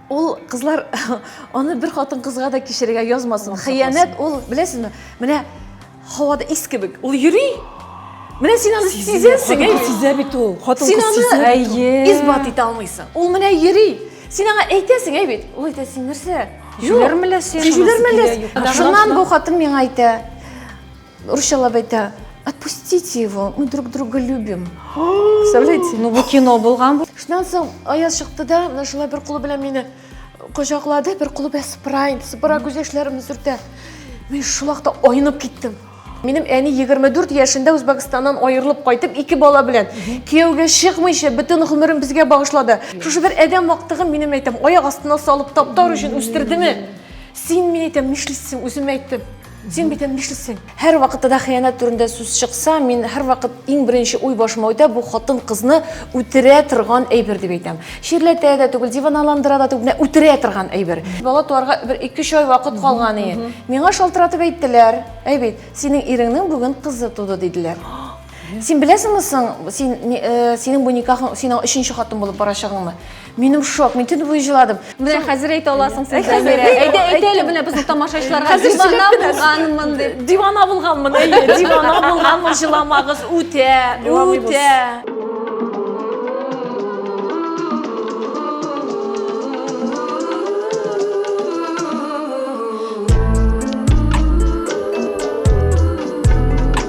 ул кызлар аны бер хатын кызга да кичерергә язмасын хыянәт ул беләсезме менә һавада ис кебек ул йөри менә син аны сизәсең әйе сизә бит ул хатын син аны әйе исбат итә алмыйсың ул менә йөри син аңа әйтәсең әй бит ул әйтә син нәрсә сизүләр мәләсе сизүләр мәләсе шуннан бу хатын миңа әйтә Урысчалап әйтә, отпустите его, мы друг друга любим. Представляете? Ну, бу кино булган бу. Шуннан соң Аяз чыкты да, менә шулай бер кулы белән мине кочаклады, бер кулы белән сыпыра инде, сыпыра күз яшьләремне сөртә. Мин шул вакытта айнып киттем. Минем әни 24 яшендә Үзбәкстаннан аерылып кайтып, ике бала белән кияүгә чыкмыйча бөтен гомерен безгә багышлады. Шушы бер адәм вактыгын минем әйтәм, аяк астына салып таптар өчен үстердеме? Син мин әйтәм, нишлисең, үзем әйттем. Син бит әнә нишлисең? Һәрвакытта да хыянәт турында сүз чыкса, мин һәрвакыт иң беренче уй башыма үтә, бу хатын-кызны үтерә торган әйбер дип әйтәм. Чирләтә дә түгел, диваналандыра да түгел, менә үтерә торган әйбер. Бала туарга бер 2-3 ай вакыт калган иде. Миңа шалтыратып әйттеләр, әй бит, синең иреңнең бүген кызы туды, диделәр. Син беләсеңме соң, син, синең бу никахың, синең өченче хатын булып барачагыңны? Минем шок, мин түні бойы жыладым. Менә хәзер әйтә аласың сез Зәмирә. Әйдә, әйтә әле менә безнең тамашачыларга дивана булганмын дип. Дивана булганмын, әйе, дивана булганмын, җыламагыз, үтә, үтә.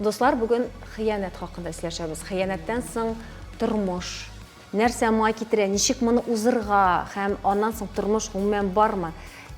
Дуслар, бүген хыянәт хакында сөйләшәбез. Хыянәттән соң тормыш нәрсә май китерә, ничек моны узырга һәм аннан соң тормыш гомумән бармы?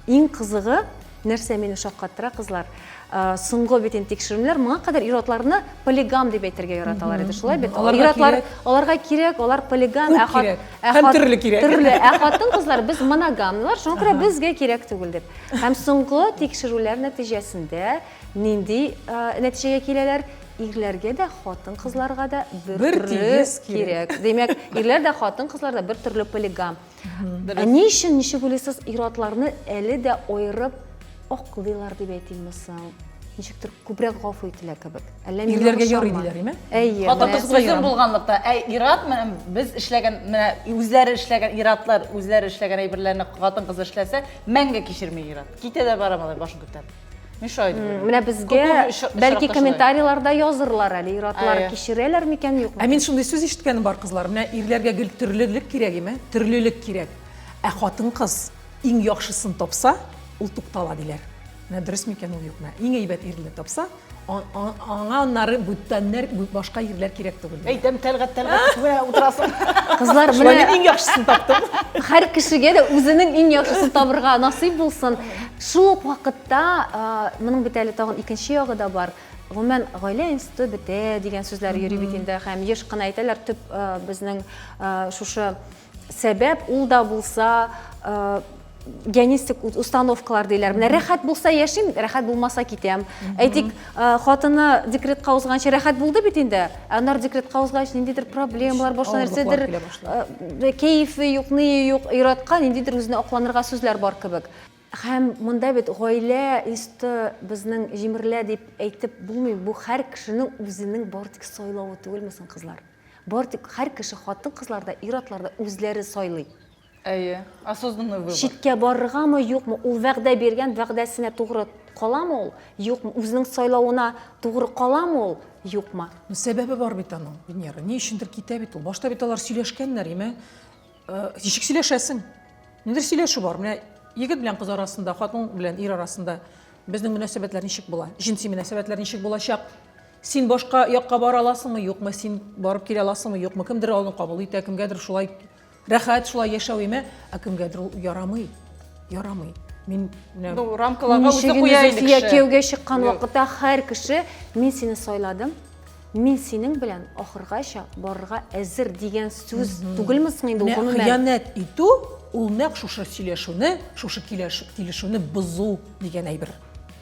Иң кызыгы, нәрсә мине шаккаттыра, кызлар, э, соңгы бит инде тикшеренүләр моңа кадәр ир-атларны полигам дип әйтергә яраталар иде, шулай бит? Аларга Ир-атлар кирәк. аларга кирәк, алар полигам, Күп ә хат- кирәк. ә Һәм хат- төрле кирәк. Төрле, ә хатын кызлар без моногамнар, шуңа күрә безгә кирәк түгел дип. Һәм соңгы тикшерүләр нәтиҗәсендә Нинди нәтиҗәгә киләләр? Ирләргә дә, хатын-кызларга да бер тигез кирәк. Димәк, ирләр дә, хатын-кызлар да бер төрле полигам. Ә ни өчен ничек уйлыйсыз, ир-атларны әле дә аерып аклыйлар дип әйтимме соң? ничектер күбрәк гафу ителә кебек. Әллә мин Ирләргә ярый диләр, име? Әйе. Хатын-кыз күзем булганлыкта, ә ират менә без эшләгән, менә үзләре эшләгән иратлар, үзләре эшләгән әйберләрне хатын-кыз эшләсә, мәңге кичерми ират. Китә дә бара малай башын күтәреп. Миша айтып йөргән. Менә безгә бәлки комментарийларда язырлар әле, ир-атлар кичерәләр микән, юкмы? Ә мин шундый сүз ишеткәнем бар, кызлар. Менә ирләргә гел төрлелек кирәк име? Төрлелек кирәк. Ә хатын-кыз иң яхшысын тапса, ул туктала, диләр. Менә дөрес микән ул, юкмы? Иң әйбәт ирне тапса, Аңа аннары бүтәннәр, башка ирләр кирәк түгел. Әйтәм, тәлгать, тәлгать, күрә утырасың. Кызлар, менә... Шулай иң яхшысын таптым. Хәр кешегә дә үзенең иң яхшысын табырга насыйп булсын. Шул ук вакытта, моның бит әле тагын икенче ягы да бар. Гомумән, гаилә институты бетә дигән сүзләр йөри бит инде һәм еш кына әйтәләр, төп безнең шушы Сәбәп ул да булса генистик установкалар диләр. Менә рәхәт булса яшим, рәхәт булмаса китәм. Әйтик, хатыны декретка узганчы рәхәт булды бит инде. Ә аннары декретка узгач ниндидер проблемалар, башка нәрсәдер кәефе юк, ные юк, иратка ниндидер үзенә акланырга сүзләр бар кебек. Һәм монда бит гаилә инсты безнең җимерелә дип әйтеп булмый. Бу һәр кешенең үзенең бары тик сайлавы түгелме соң, кызлар? Бары тик һәр кеше хатын-кызлар да, ир-атлар да үзләре сайлый. Әйе, осознанный выбор. Читкә барыргамы, юкмы, ул вәгъдә биргән вәгъдәсенә тугры каламы ул, юкмы, үзенең сайлавына тугры каламы ул, юкмы. Ну, сәбәбе бар бит аның, Венера, ни өчендер китә бит ул. Башта бит алар сөйләшкәннәр, имә, ничек сөйләшәсең? Нидер сөйләшү бар, менә егет белән кыз арасында, хатын белән ир арасында безнең мөнәсәбәтләр ничек була, җенси мөнәсәбәтләр ничек булачак? Син башка якка бара аласыңмы, юкмы, син барып килә аласыңмы, юкмы, кемдер аны кабул итә, кемгәдер шулай рәхәт, шулай яшәү име, ә кемгәдер ул ярамый, ярамый. Мин менә Ну, рамкаларга үзе Ничегенде куя инде Зөлфия кеше. кияүгә чыккан Юк. вакытта һәр кеше мин сине сайладым, мин синең белән ахыргача барырга әзер дигән сүз түгелме соң инде ул Менә гомумән? хыянәт итү ул нәкъ шушы сөйләшүне, шушы киләш- килешүне бозу дигән әйбер.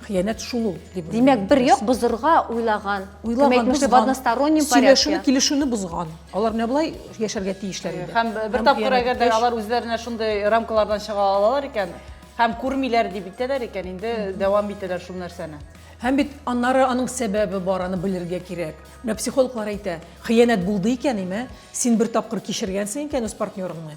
Хыянәт шул ул, дип уйлыйм. Димәк, бер як бозырга уйлаган. Уйлаган, бозган. В одностороннем порядке. Сөйләшүне, килешүне бозган. Алар менә болай яшәргә тиешләр иде. Һәм бер тапкыр әгәр дә алар үзләренә шундый рамкалардан чыга алалар икән, һәм күрмиләр дип итәләр икән, инде дәвам итәләр шул нәрсәне. Һәм бит аннары аның сәбәбе бар, аны белергә кирәк. Менә психологлар әйтә, хыянәт булды икән, имә, син бер тапкыр кичергәнсең икән үз партнерыңны.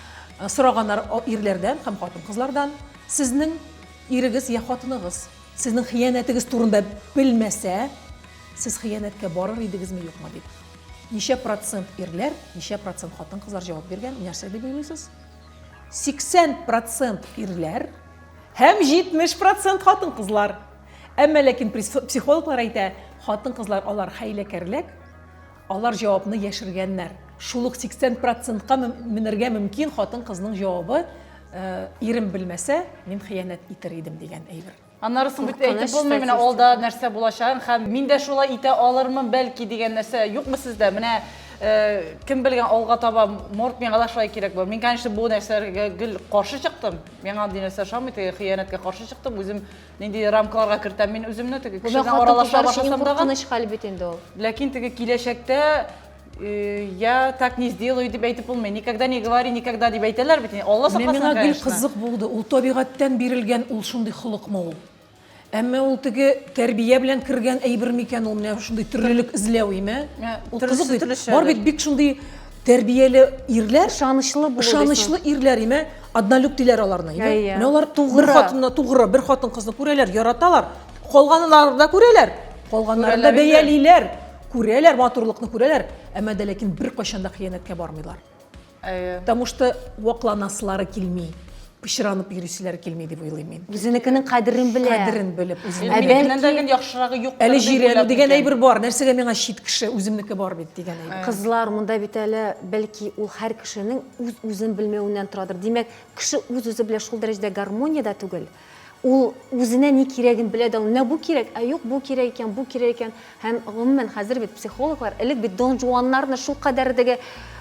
Сораганнар ирләрдән һәм хатын-кызлардан, сезнең ирегез йә хатыныгыз сезнең хыянәтегез турында белмәсә, сез хыянәткә барыр идегезме, юкмы дип. Ничә процент ирләр, ничә процент хатын-кызлар җавап биргән, нәрсә дип уйлыйсыз? 80 процент ирләр һәм 70 процент хатын-кызлар. Әмма ләкин психологлар әйтә, хатын-кызлар алар хәйләкәрлек, Алар җавапны яшергәннәр. Шул ук 80 процентка менергә мөмкин хатын-кызның җавабы, ирем белмәсә, мин хыянәт итер идем дигән әйбер. Аннары соң бит әйтеп булмый, менә алда нәрсә булачагын һәм мин дә шулай итә алырмын бәлки дигән нәрсә юкмы сездә? Менә кем белгән алга таба, может, миңа да шулай кирәк булыр. Мин, конечно, бу нәрсәләргә гел каршы чыктым. Миңа андый нәрсә ошамый, теге хыянәткә каршы чыктым. Үзем Нинди рамкаларга кертәм мин үземне теге Бу кешедән хатын аралаша кызлар өчен иң башласам тагын. куркыныч хәл бит инде ул. Ләкин теге киләчәктә э, я так не сделаю дип әйтеп булмый. Никогда не говори, никогда дип әйтәләр бит. Алла Мен сакласын, миңа гел конечно. кызык булды, ул табигатьтән бирелгән ул шундый холыкмы ул? Әмма ул теге тәрбия белән кергән әйбер микән ул менә шундый төрлелек эзләү име? Ә, Ул төрлесе кызык бит. төрлечә Бар әле. бит бик шундый тәрбияле ирләр, Ышанычлы булу. ышанычлы ирләр име? Однолюб диләр аларны. Әйе. Иә, иә. Менә алар тугры хатынна тугры бер хатын-кызны күрәләр, яраталар. Калганнарын да күрәләр. Калганнарын да бәялиләр. Күрәләр матурлыкны күрәләр, әмма дә ләкин бер кайчан да хыянәткә бармыйлар. Әйе. Потому что вакланасылары килми пычранып йөрүчеләр килми дип уйлыйм мин. Үзенекенең кадерен белә. Кадерен белеп, үзенекеннән дә гел яхшырагы юк. Әле җирәнү дигән әйбер бар. Нәрсәгә миңа чит кеше, үземнеке бар бит дигән әйбер. Кызлар монда бит әле бәлки ул һәр кешенең үз-үзен белмәвеннән торадыр. Димәк, кеше үз-үзе белән шул дәрәҗәдә гармониядә түгел. Ул үзенә ни кирәген белә дә, менә бу кирәк, ә юк, бу кирәк икән, бу кирәк икән. Һәм гомумән хәзер бит психологлар, элек бит Дон Жуаннарны шул кадәр дәге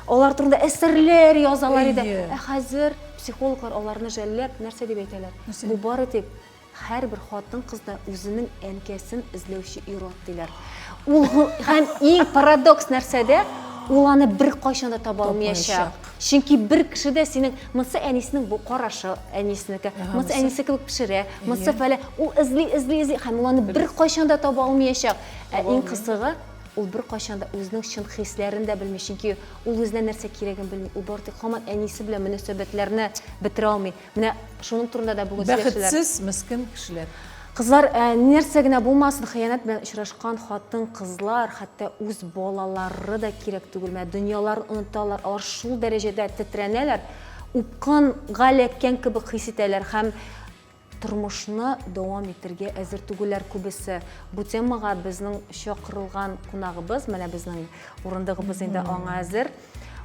алар турында әсәрләр язалар иде. Ә хәзер психологлар аларны жәлләп нәрсә дип әйтәләр? Бу бары тик Һәрбер хатын-кыз да үзенең әнкәсен эзләүче ир-ат диләр. Ул һәм иң парадокс нәрсәдә, ул аны бер кайчан да таба алмаячак. Чөнки бер кеше дә синең монсы әнисенең бу карашы, әнисенеке, монсы әнисе кебек пешерә, монсы фәлә, ул эзли, эзли, эзли һәм ул аны бер кайчан да таба алмаячак. Ә иң кызыгы, ул бер кайчан да үзенең чын хисләрен дә белми, чөнки ул үзенә нәрсә кирәген белми. Ул бары тик хаман әнисе белән мөнәсәбәтләрне бетерә алмый. Менә шуның турында да бүген сөйләшәләр. Бәхетсез, мескен кешеләр. Кызлар, ә, нәрсә генә булмасын, хыянәт белән очрашкан хатын-кызлар, хәтта үз балалары да кирәк түгел. Менә дөньяларын оныталар, алар шул дәрәҗәдә тетрәнәләр, упкын га эләккән кебек хис итәләр һәм тормышны дәвам итергә әзер түгелләр күбесе. Бу темага безнең чакырылган кунагыбыз, менә безнең урындыгыбыз инде аңа әзер.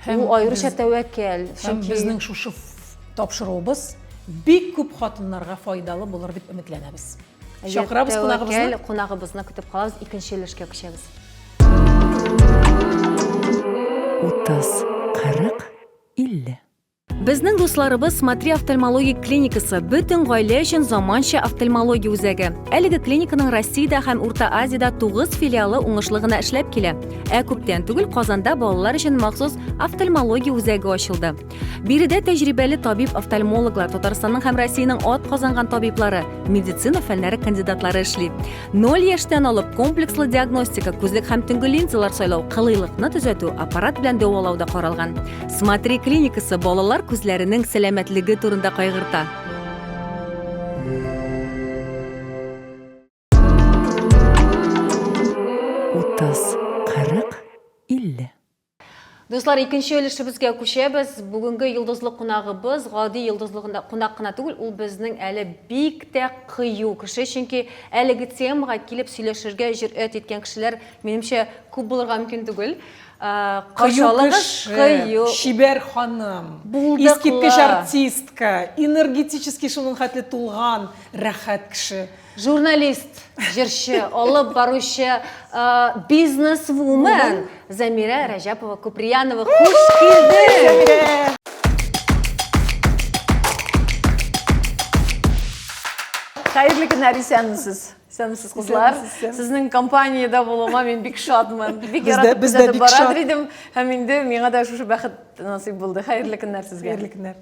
Һәм Ул аеруча без- тәвәккәл. Һәм Чөнки безнең шушы ф- тапшыруыбыз бик күп хатыннарга файдалы булыр дип өметләнәбез. әгәр Чакырабыз тәвәккәл кунагыбызны. кунагыбызны көтеп калабыз, икенче өлешкә күчәбез. 30, 40, 50. Безнең дусларыбыз Смотри офтальмологик клиникасы бөтен гаилә өчен заманча офтальмология үзәге. Әлеге клиниканың Россиядә һәм Урта Азиядә 9 филиалы уңышлы гына эшләп килә. Ә күптән түгел Казанда балалар өчен махсус офтальмология үзәге ачылды. Биредә тәҗрибәле табиб-офтальмологлар, Татарстанның һәм Россиянең ат казанган табиблары, медицина фәннәре кандидатлары эшли. Ноль яшьтән алып комплекслы диагностика, күзлек һәм төнге линзалар сайлау, кылыйлыкны төзәтү, аппарат белән дәвалау да каралган. Смотри клиникасы балалар күзләренең сәламәтлеге турында кайгырта. Утыз, кырык, илле. Дуслар, икенче өлешебезгә күчәбез. Бүгенге йолдызлы кунагыбыз гади йолдызлы кунак кына түгел, ул безнең әле бик тә кыю кеше, чөнки әлеге темага килеп сөйләшергә җөрьәт иткән кешеләр, минемчә, күп булырга мөмкин түгел. Кыю кыю. Чибәр ханым, искиткеч артистка, энергетически шуның хәтле тулган, рәхәт кеше. Журналист, җырчы, алып баручы, бизнес-вумен Замирә Рәҗәпова Куприянова. Хуш килдең! Хәерле көннәр, исәнмесез. Исәнмесез, кызлар. Сезнең компаниядә булуыма мин бик шатмын. Бик яратып күзәтеп барадыр идем, һәм инде миңа да шушы бәхет насыйп булды. Хәерле көннәр сезгә. Хәерле көннәр.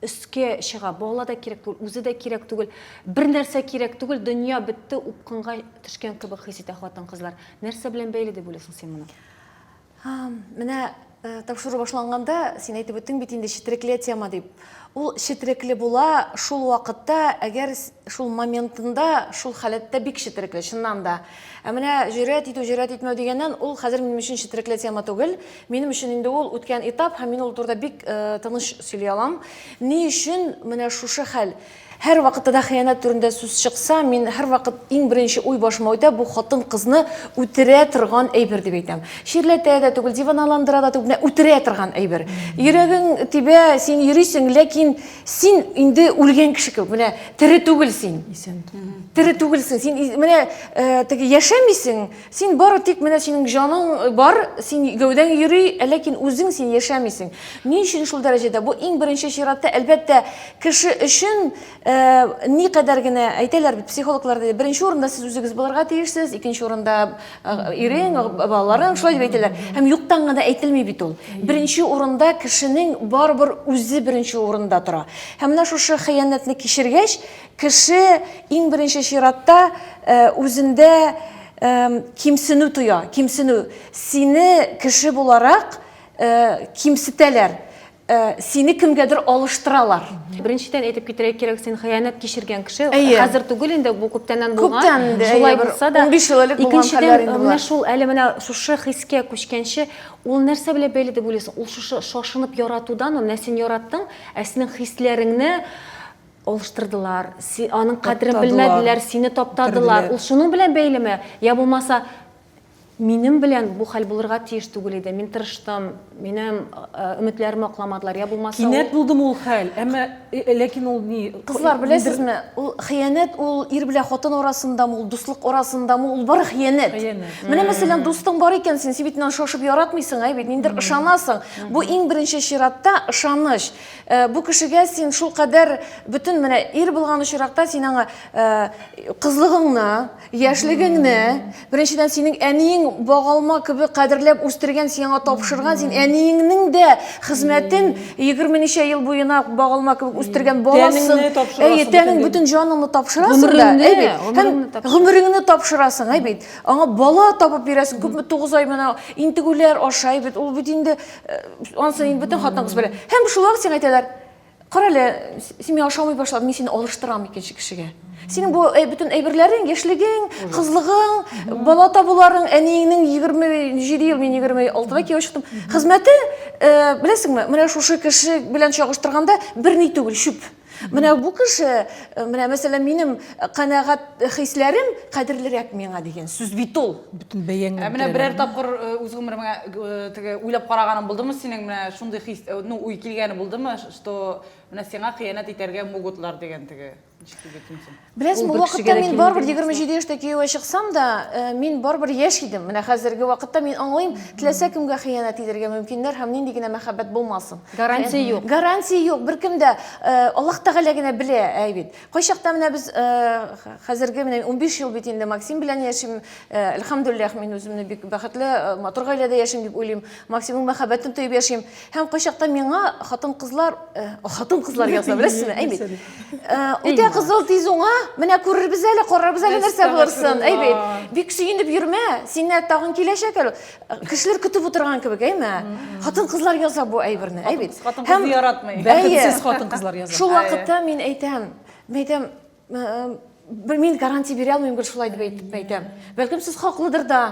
өскә чыга. Бала да кирәк түгел, үзе дә кирәк түгел. Бер нәрсә кирәк түгел, дөнья бетте, упкынга төшкән кебек хис итә хатын-кызлар. Нәрсә белән бәйле дип уйлыйсың син моны? Менә э, тапшыру башланганда син әйтеп үттең бит инде четерекле тема дип. Ул четерекле була шул вакытта, әгәр шул моментында, шул халәттә бик четерекле, чыннан да. Ә менә җөрьәт итү, җөрьәт итмәү дигәннән, ул хәзер минем өчен четерекле тема түгел. Минем өчен инде ул үткән этап һәм мин ул турыда бик тыныч сөйли алам. Ни өчен менә шушы хәл? Һәр вакытта да хыянәт турында сүз чыкса, мин һәрвакыт иң беренче уй башыма үтә, бу хатын-кызны үтерә торган әйбер дип әйтәм. Чирләтә дә түгел, диваналандыра да түгел, үтерә торган әйбер. Йөрәгең тибә, син йөрисең, ләкин син инде үлгән кеше кебек, менә тере түгел син. Исән. Тере түгелсең, син менә теге яшәмисең, Син бары тик менә синең җаның бар, син гәүдәң йөри, ә ләкин үзең син яшәмисең. Ни өчен шул дәрәҗәдә? Бу иң беренче чиратта, әлбәттә, кеше өчен никадәр генә әйтәләр бит психологлар да, беренче урында сез үзегез булырга тиешсез, икенче урында ирең, балаларың, шулай дип әйтәләр. Һәм юктан гына әйтелми бит ул. Беренче урында кешенең барыбер үзе беренче урында тора. Һәм менә шушы хыянәтне кичергәч, Кеше, иң беренче чиратта, үзендә кимсенү тоя, кимсенү. Сине кеше буларак кимсетәләр, сине кемгәдер алыштыралар. Беренчедән әйтеп китерә кирәк, син хыянәт кичергән кеше, хәзер түгел инде, бу күптәннән булган. Күптән инде, шулай булса да. Унбиш ел элек булган хәлләр инде болар. Икенчедән, менә шул әле менә шушы хискә күчкәнче, ул нәрсә белән бәйле дип уйлыйсың? Ул шушы шашынып яратудан, менә син яраттың, ә синең хисләреңне, алыштырдылар, си, аның кадерен белмәделәр, сине таптадылар. Ул шуның белән бәйлеме? Я булмаса, минем белән бу хәл булырга тиеш түгел иде. Мин тырыштым, минем өметләремне акламадылар. Я булмаса, кинәт булдым ул хәл. Әмма ләкин ул ни? Кызлар, беләсезме, ул хыянәт, ул ир белән хатын арасындамы, ул дуслык арасындамы, ул бары хыянәт. Менә мәсәлән, дустың бар икән, син син бит шашып яратмыйсың, әй бит, ниндер ышанасың. Бу иң беренче чиратта ышаныч. Э, бу кешегә син шул кадәр бөтен менә ир булган очракта син аңа э, кызлыгыңны яшьлегеңне беренчедән синең әниең багалма кебек кадерләп үстергән син аңа тапшырган син әниеңнең дә хезмәтен егерме ничә ел буена багалма кебек үстергән баласын әйе тәнең бөтен җаныңны тапшырасың да әйбит гомереңне тапшырасың әйбит аңа бала табып бирәсең күпме тугыз ай менә интегүләр ашай бит ул бит инде Ансы инде бүтән хатынкыз белә. Һәм шулай ук сиңа әйтәләр, кара әле, син миңа ошамый башладың, мин сине алыштырам икенче кешегә. Синең бу э, бүтән әйберләрең, яшьлегең, кызлыгың, бала табуларың, әниеңнең 27 ел, мин 26-да кияү чыктым. Хезмәте, э, беләсеңме, менә шушы кеше белән чагыштырганда берни түгел, чүп. Менә бу кеше, э, менә мәсәлән, минем э, канәгать хисләрем кадерлерәк миңа дигән сүз бит ул. Бөтен бәяңне. Ә менә берәр тапкыр э, үз гомеремә теге уйлап караганым булдымы синең менә шундый хис, ну, уй килгәне булдымы, что менә сиңа хыянәт итәргә могутлар дигән теге. Ничек дип әйтим соң? Беләсең, бу вакытта мин барбер 27 яшьтә кияүгә чыксам да, э, мин барбер яшь идем. Менә хәзерге вакытта мин аңлыйм, теләсә кемгә хыянәт итәргә мөмкиннәр һәм нинди генә мәхәббәт булмасын. Гарантия э, юк. Гарантия юк. Беркем дә э, Аллаһ Тәгалә генә белә, әй бит. Кайчакта менә без хәзерге менә 15 ел бит инде Максим белән яшим. Әлхәмдулиллах, мин үземне бик бәхетле, матур гаиләдә яшим дип уйлыйм. Максимның мәхәббәтен тоеп яшим. Һәм кайчакта миңа хатын-кызлар, э, хатын-кызлар яза, беләсезме? Әйбит. Э, үтә кызыл тиз уңа, менә күрербез әле, карарбыз әле нәрсә булырсын. Әйбит. Бик сөенеп йөрмә, сиңа тагын киләчәк әле. Э, кешеләр көтеп утырган кебек, әйме? Хатын-кызлар яза бу әйберне, әйбит. Хатын-кызны яратмый. Бәхетсез хатын-кызлар яза. Шул вакытта мин әйтәм, мин әйтәм, э, мин гарантия бирә алмыйм, гел шулай дип әйтәм. Бәлкем сез хаклыдыр да.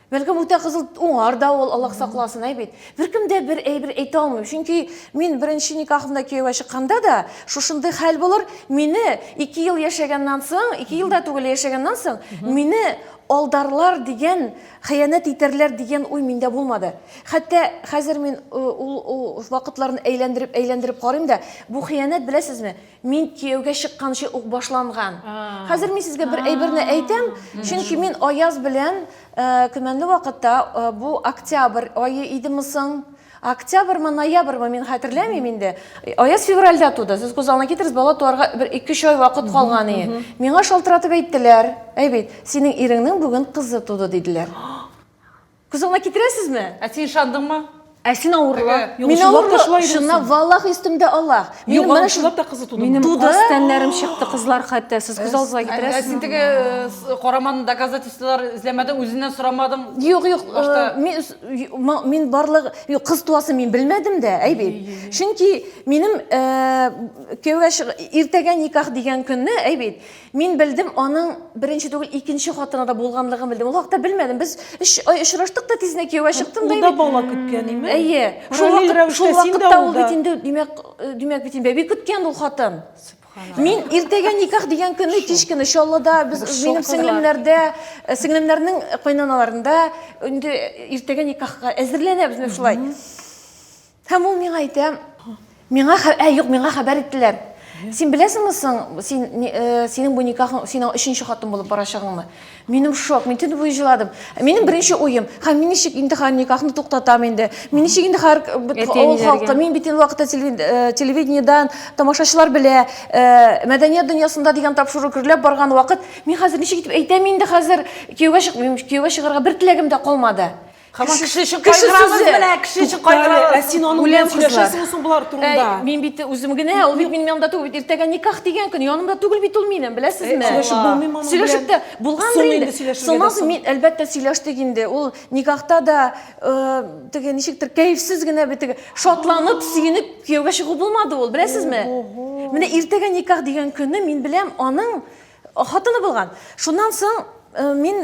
Бәлкем үтә кызыл уңар да ул, Аллаһ сакласын, әй бит. Беркем дә бер әйбер әйтә алмыйм. Чөнки мин беренче никахымда кияүгә чыкканда да шушындый хәл булыр. Мине 2 ел яшәгәннән соң, 2 ел да түгел яшәгәннән соң, мине алдарлар дигән, хыянәт итәрләр дигән уй миндә булмады. Хәтта хәзер мин ул вакытларны әйләндереп-әйләндереп карыйм да, бу хыянәт, беләсезме, мин кияүгә чыкканчы ук башланган. Хәзер мин сезгә бер әйберне әйтәм, чөнки мин Аяз белән э, көмәнле вакытта э, бу октябрь айы идеме соң? Октябрьмы, ноябрьмы мин хәтерләмим инде. Аяз февральдә туды. Сез күз алдына китерегез, бала туарга бер 2-3 ай вакыт калган иде. Миңа шалтыратып әйттеләр. Әй бит, синең иреңнең бүген кызы туды диделәр. Кызыңа китерәсезме? Ә син ышандыңмы? Ә син авырла. Әгә. Мин авырла. Шуннан валлах истемдә Аллах. Мин менә шулап та кызы туды. Минем каз тәннәрем чыкты кызлар хәтта. Сез күз алдыгызга китерәсез. Ә син теге э, караман доказательстволар эзләмәдең, үзеннән сорамадың. Юк, юк. Э, мин барлык юк кыз туасы мин белмәдем дә, әй бит. Чөнки минем э, кияүгә иртәгә никах дигән көнне, әй бит. Мин белдем, аның беренче түгел, икенче хатыны да булганлыгын белдем. Ул хакта белмәдем. Без өч ай очраштык та тизне кияүгә чыктым да. Ул да бала көткән име? Әйе. Шул вакытта шул вакытта ул бит инде димәк, э, димәк бит инде бәби көткән ул хатын. Мин иртәгә никах дигән көнне кич көне Чаллыда без минем сеңлемнәрдә, э, сеңлемнәрнең кайнаналарында инде иртәгә никахка әзерләнәбез менә шулай. Һәм ул миңа әйтә, миңа, ә, юк, миңа хәбәр иттеләр. Син беләсеңме соң, син, э, синең бу никахың, синең өченче хатын булып барачагыңмы? Минем шок, мин төне буе җыладым. Ә минем беренче уем, ха, мин ничек инде хәр никахны туктатам инде? Мин ничек инде хәр авыл халкы, мин бит инде вакытта э, телевидениедән тамашачылар белә, э, мәдәният дөньясында дигән тапшыру гөрләп барган вакыт, мин хәзер ничек итеп әйтәм инде хәзер кияүгә чык, кияүгә чыгарга бер теләгем дә калмады. Хаман кеше өчен кайгырабыз менә, кеше өчен кайгырабыз. Ә син аның белән сөйләшәсеңме соң болар турында? Мин бит үзем генә, ул бит минем янымда түгел бит. Иртәгә никах дигән көн янымда түгел бит ул минем, беләсезме? Сөйләшеп булмый моның белән. Сөйләшеп тә булгандыр инде. Сыназ мин әлбәттә сөйләштек инде. Ул никахта да теге ничектер кәефсез генә бит теге шатланып, сөенеп кияүгә чыгу булмады ул, беләсезме? Менә иртәгә никах дигән көнне мин беләм аның хатыны булган. Шуннан соң мин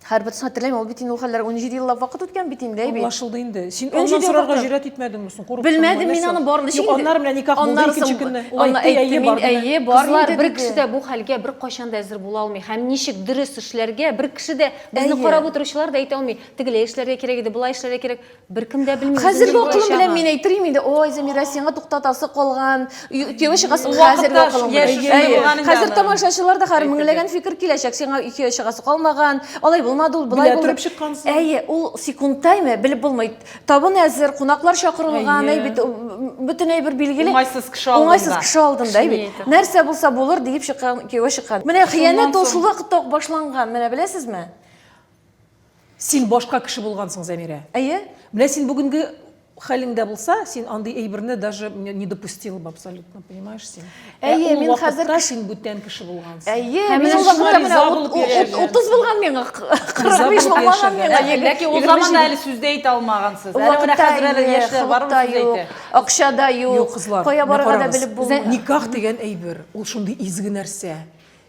Хәер, бөтенесен хәтерләмим, ул бит инде ул хәлләр унҗиде еллап вакыт үткән бит инде, әйбит. Аңлашылды инде. Син аннан сорарга җөрьәт итмәдеңме соң, курыктыңмы? Белмәдем мин аны барын ничек инде. Аннары менә никах булды икенче көнне. Ул әйтте, әйе бар диде. Әйе, бар диде. Кызлар, бер кеше дә бу хәлгә беркайчан да әзер була алмый. Һәм ничек дөрес эшләргә, бер кеше дә безне карап утыручылар да әйтә алмый. Тегеләй эшләргә кирәк иде, болай эшләргә кирәк. Беркем дә белми. Хәзерге акылым белән мин әйтерим инде, ой, Замира, сиңа туктатасы калган, кияү чыгасың хәзерге акылым белән. Хәзер тамашачылар да хәзер меңләгән фикер киләчәк, сиңа кияү чыгасы калмаган, алай булмады ул, болай булды. Белә торып Әйе, ул секундтаймы, белеп булмый. Табын әзер, кунаклар чакырылган, әй бит, бөтен әйбер билгеле. Уңайсыз кеше алдында. Уңайсыз кеше алдында, әй бит. Нәрсә булса булыр диеп чыккан, кияүгә чыккан. Менә хыянәт ул шул вакытта ук башланган, менә беләсезме? Син башка кеше булгансың, Зәмирә. Әйе, менә син бүгенге хәлеңдә булса, син андый әйберне даже не допустила бы абсолютно, понимаешь син? Әйе, ә мин хәзер кеше... син бүтән кеше булгансың. Әйе, ә мин вакытта менә 30 булган миңа, 45 булмаган миңа. Ләкин ул заманда әле сүз дә әйтә алмагансыз. Әле менә хәзер әле яшьләр бар сүз әйтә. Акча да юк. Кая барырга да белеп булмый. Никах дигән әйбер, ул шундый изге нәрсә.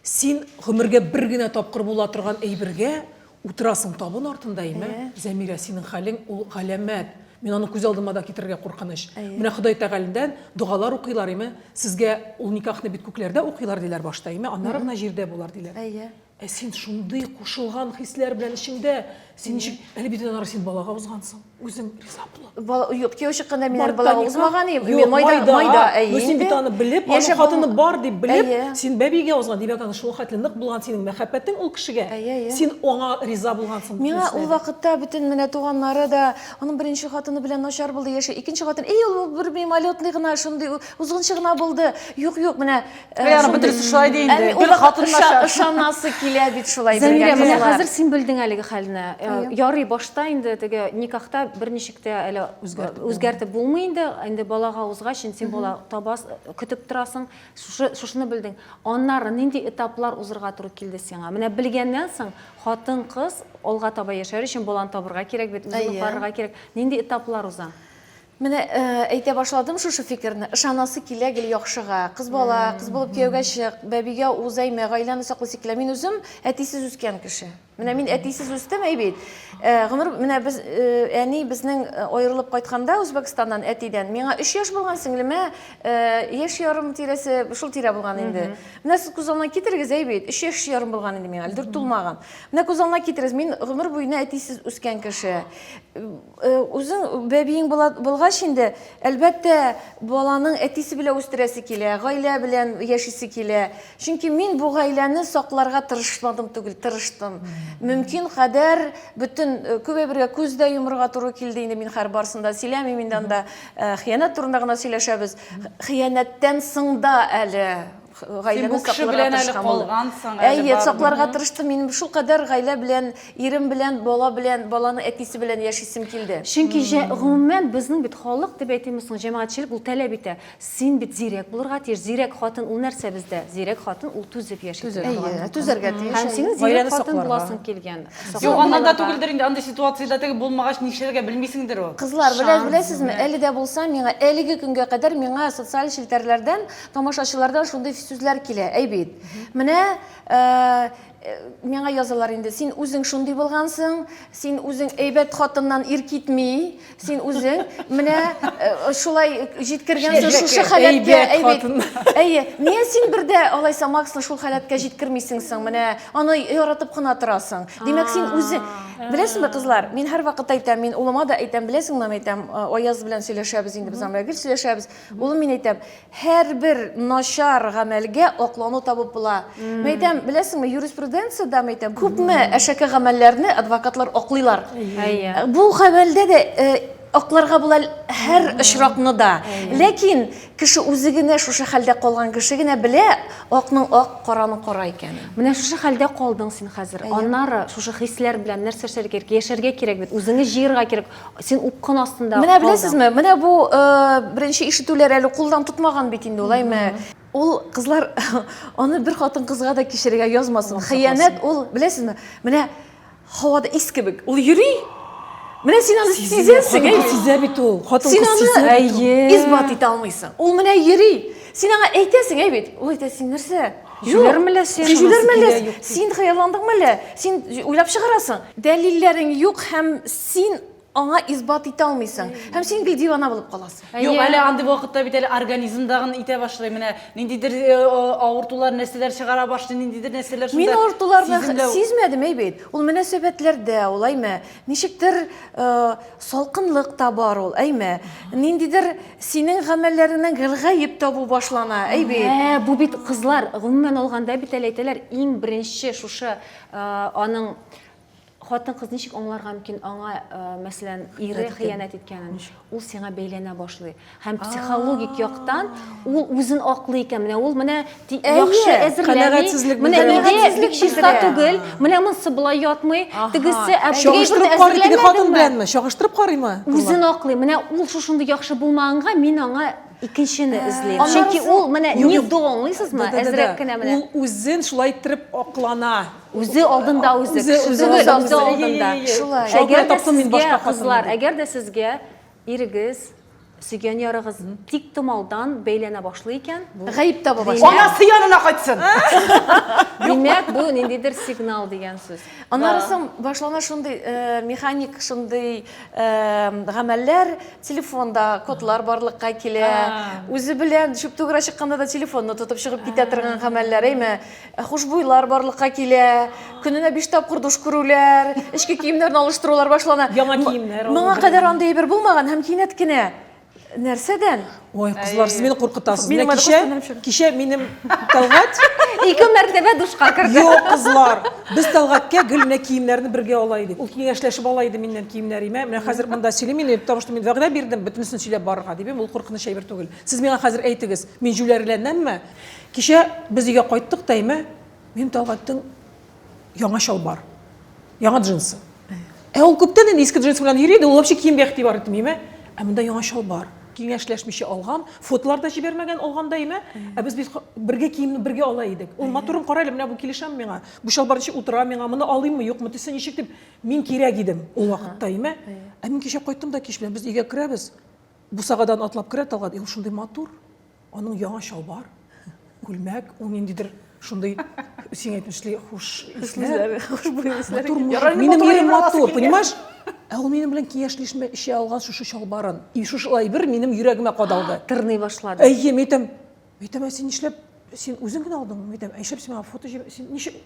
Син гомергә бер генә тапкыр була торган әйбергә Утырасың табын артында, әйме? Әйе. Зәмирә, синең хәлең ул галәмәт. Мин аны күз алдыма да китерергә куркыныч. Әйе. Менә Ходай Тәгаләдән догалар укыйлар, әйме? Сезгә ул никахны бит күкләрдә укыйлар, диләр башта, әйме? Аннары гына җирдә булыр, диләр. Әйе. Ә син шундый кушылган хисләр белән эчеңдә, син ничек, әле бит аннары син балага узгансың. Үзем риза булам. Юк, кияү чыкканда мин әле бала узмаган идем. Юк, майда, майда, әйе. Син бит аны белеп, аның хатыны бар дип белеп, син бәбигә узган, димәк, аны шул хәтле нык булган синең мәхәббәтең ул кешегә. Син аңа риза булгансың. Миңа ул вакытта бөтен менә туганнары да, аның беренче хатыны белән начар булды яши, икенче хатын, эй, ул бер мимолетный гына, шундый узгынчы гына булды. Юк, юк, менә Э, Яры бөтен шулай ди инде. Бер хатынлаша. Ышанасы килә бит шулай бергә. Менә хәзер син белдең әлеге хәлне. Э, ярый башта инде теге никахта берничек тә әле үзгәртеп булмый инде. Инде балага узгач, син бала табас, көтеп торасың. Шушыны белдең. Аннары нинди этаплар узырга туры килде сиңа? Менә белгәннән соң хатын кыз алга таба яшәр өчен баланы табырга кирәк бит, үзен карарга кирәк. Нинди этаплар уза? Менә әйтә башладым шушы фикерне, ышанасы килә гел яхшыга. Кыз бала, кыз булып кияүгә чык, бәбигә уз әймә, гаиләне сакла сикелә. Мин үзем әтисез үскән кеше. Менә мин әтисез үстем, әй бит. Э, гомер менә без э, әни безнең э, аерылып кайтканда Үзбәкстаннан әтидән, миңа 3 яшь булган сеңлемә яшь ярым тирәсе, шул тирә булган инде. Менә сез күз алдына китерегез, әй бит, 3 яшь ярым булган инде миңа, әле дүрт тулмаган. Менә күз алдына китерегез, мин гомер буена әтисез үскән кеше. Э, үзең бәбиең булгач инде, әлбәттә, баланың әтисе белән үстерәсе килә, гаилә белән яшисе килә. Чөнки мин бу гаиләне сакларга тырышмадым түгел, тырыштым. Мөмкин кадәр бөтен э, күбе бергә күз дә йомырга туры килде инде мин хәр барсында сөйләмим инде анда э, хыянәт турында гына сөйләшәбез. Хыянәттән соң да әле Син бу кеше белән әле калгансың, әле Әйе, сакларга тырыштым. Мин шул кадәр гаилә белән, ирем белән, бала белән, баланы әтисе белән яшисем килде. Чөнки гомумән безнең бит халык дип әйтимме соң, җәмәгатьчелек ул таләп итә. Син бит зирәк булырга тиеш. Зирәк хатын ул нәрсә бездә? Зирәк хатын ул түзеп яши торган. Түзәргә тиеш. Һәм синең зирәк хатын буласың килгән. Юк, аннан да түгелдер инде, андый ситуациядә теге булмагач нишләргә белмисеңдер ул. Кызлар, беләсезме, әле дә булса миңа, әлеге көнгә кадәр миңа социаль челтәрләрдән Тамашачылардан шундый сүзләр килә, әй бит. Менә миңа язалар инде, син үзең шундый булгансың, син үзең әйбәт хатыннан ир китми, син үзең менә э, шулай җиткергәнсең шушы халәткә әйбәт. Әйе, нигә син бердә алайса Максны шул халәткә җиткермисең соң, менә аны яратып кына торасың. Димәк, син үзең Беләсеңме, кызлар, мин һәрвакыт әйтәм, мин улыма да әйтәм, беләсеңме, әйтәм, э, Аяз белән сөйләшәбез инде без, Амрагөл сөйләшәбез. Улым, мин әйтәм, һәрбер начар гамәлгә аклану табып була. Мин әйтәм, беләсеңме, юриспруденциядә, мин әйтәм, күпме әшәке гамәлләрне адвокатлар аклыйлар. Бу гамәлдә дә акларга була һәр очракны да. Ләкин кеше үзе генә шушы хәлдә калган кеше генә белә, акның ак, караның кара икәнен. Менә шушы хәлдә калдың син хәзер. Аннары шушы хисләр белән нәрсә эшләргә кирәк? Яшәргә кирәк бит, үзеңне җыерга кирәк. Син упкын астында Менә беләсезме, менә бу э, беренче ишетүләр әле кулдан тотмаган бит инде ул, әйме. Ул кызлар аны бер хатын кызга да кичерергә язмасын. Хыянәт ул, беләсезме? Менә һавада ис кебек. Ул йөри. Менә син аны сизәсең, әйме. Сизә бит ул. Хатын кыз сизә. Син аны исбат итә алмыйсың. Ул менә йөри. Син аңа әйтәсең, әйбит. Ул әйтә, син нәрсә? Җүләрме лә син? Син җүләрме лә? Син хыялландыңмы лә? Син уйлап чыгарасың. Дәлилләрең юк һәм син аңа исбат итә алмыйсың. Һәм син бит дивана булып каласың. Юк, әле андый вакытта бит әле организмдагын итә башлый. Менә ниндидер э, авыртулар, нәрсәләр чыгара башлый, ниндидер нәрсәләр шунда. Мин авыртуларны сиземләү... сизмәдем, әй бит. Ул мөнәсәбәтләрдә, ул әйме. Ничектер э, салкынлык та бар ул, әйме. Ниндидер Синең гамәлләреңнән гел гаеп табу башлана, әй бит. Ә, бу бит кызлар, гомумән алганда бит әле әйтәләр, иң беренче шушы аның хатын-кыз ничек аңларга мөмкин аңа, мәсәлән, ире хыянәт иткәнен? Ул сиңа бәйләнә башлый. Һәм психологик яктан ул үзен аклый икән. Менә ул менә Яхшы әзерләми. Менә нидә бик чиста түгел. Менә монсы болай ятмый. Тегесе чагыштырып карый теге хатын беләнме? Чагыштырып карыймы? Үзен аклый. Менә ул шушындый яхшы булмаганга мин аңа икенчене эзлим. Чөнки ул менә не до, аңлыйсызмы? Әзрәк кенә менә. Ул үзен шулай иттереп аклана. Үзе алдында үзе. Үзе алдында. Шулай. Әгәр дә сезгә кызлар, әгәр дә сезгә Ирегез, сөйгән ярыгыз тиктомалдан бәйләнә башлый икән, бу Гаеп таба башлый. Димәк- Анасы янына кайтсын! Димәк, бу ниндидер сигнал дигән сүз. Аннары Да. соң башлана шундый э, механик шундый э, гамәлләр, телефонда кодлар барлыкка килә. А. Үзе белән чүп түгәрә чыкканда да телефонны тотып чыгып китә торган гамәлләр, әйме? Ә хушбуйлар барлыкка килә, көненә биш тапкыр душ күрүләр, эчке киемнәрне алыштырулар башлана. Яңа киемнәр алу. Моңа кадәр андый әйбер булмаган һәм кинәт кенә нәрсәдән? Ой, кызлар, сез мине куркытасыз. Менә кичә, кичә минем Тәлгать ике мәртәбә душка керде. Юк, кызлар, без Тәлгаткә гел менә киемнәрне бергә ала идек. Ул киңәшләшеп ала иде миннән киемнәремә. Менә хәзер монда сөйлим инде, потому что мин вәгъдә бирдем, бөтенесен сөйләп барырга, дип. Ул куркыныч әйбер түгел. Сез миңа хәзер әйтегез, мин җүләрләнәмме? Кичә без өйгә кайттык, Тәймә, минем Тәлгатьтең яңа чалбар, яңа джинсы. Ә ул күптән инде иске джинсы белән йөри иде, ул вообще киемгә игътибар итмиме? Ә монда яңа чалбар. Киңәшләшмичә алган, фотолар да җибәрмәгән алгандайме? Ә без бит бергә киемне бергә ала идек. Ул матурын кара әле, менә бу килешәме миңа? Бу чалбар ничек утыра миңа? Моны алыйммы, юкмы, төсе ничек дип, мин кирәк идем ул вакытта име? Ә мин кичә кайттым да кич белән, без өйгә керәбез, Бусагадан атлап керә Талгат, ул шундый матур, аның яңа чалбар, күлмәк, ул ниндидер шундый сиңа әйтмешли хуш исләр, хушбуй исләр. Минем ирем матур, понимаешь? Ә ул минем белән киңәшләшмә эчә алган шушы чалбарын. И шушылай бер минем йөрәгемә кадалды. Тырный башлады. Әйе, мин әйтәм, әйтәм, ә син нишләп, син үзең генә алдыңмы? Әйтәм, ә нишләп син миңа фото җибәр, син ничек?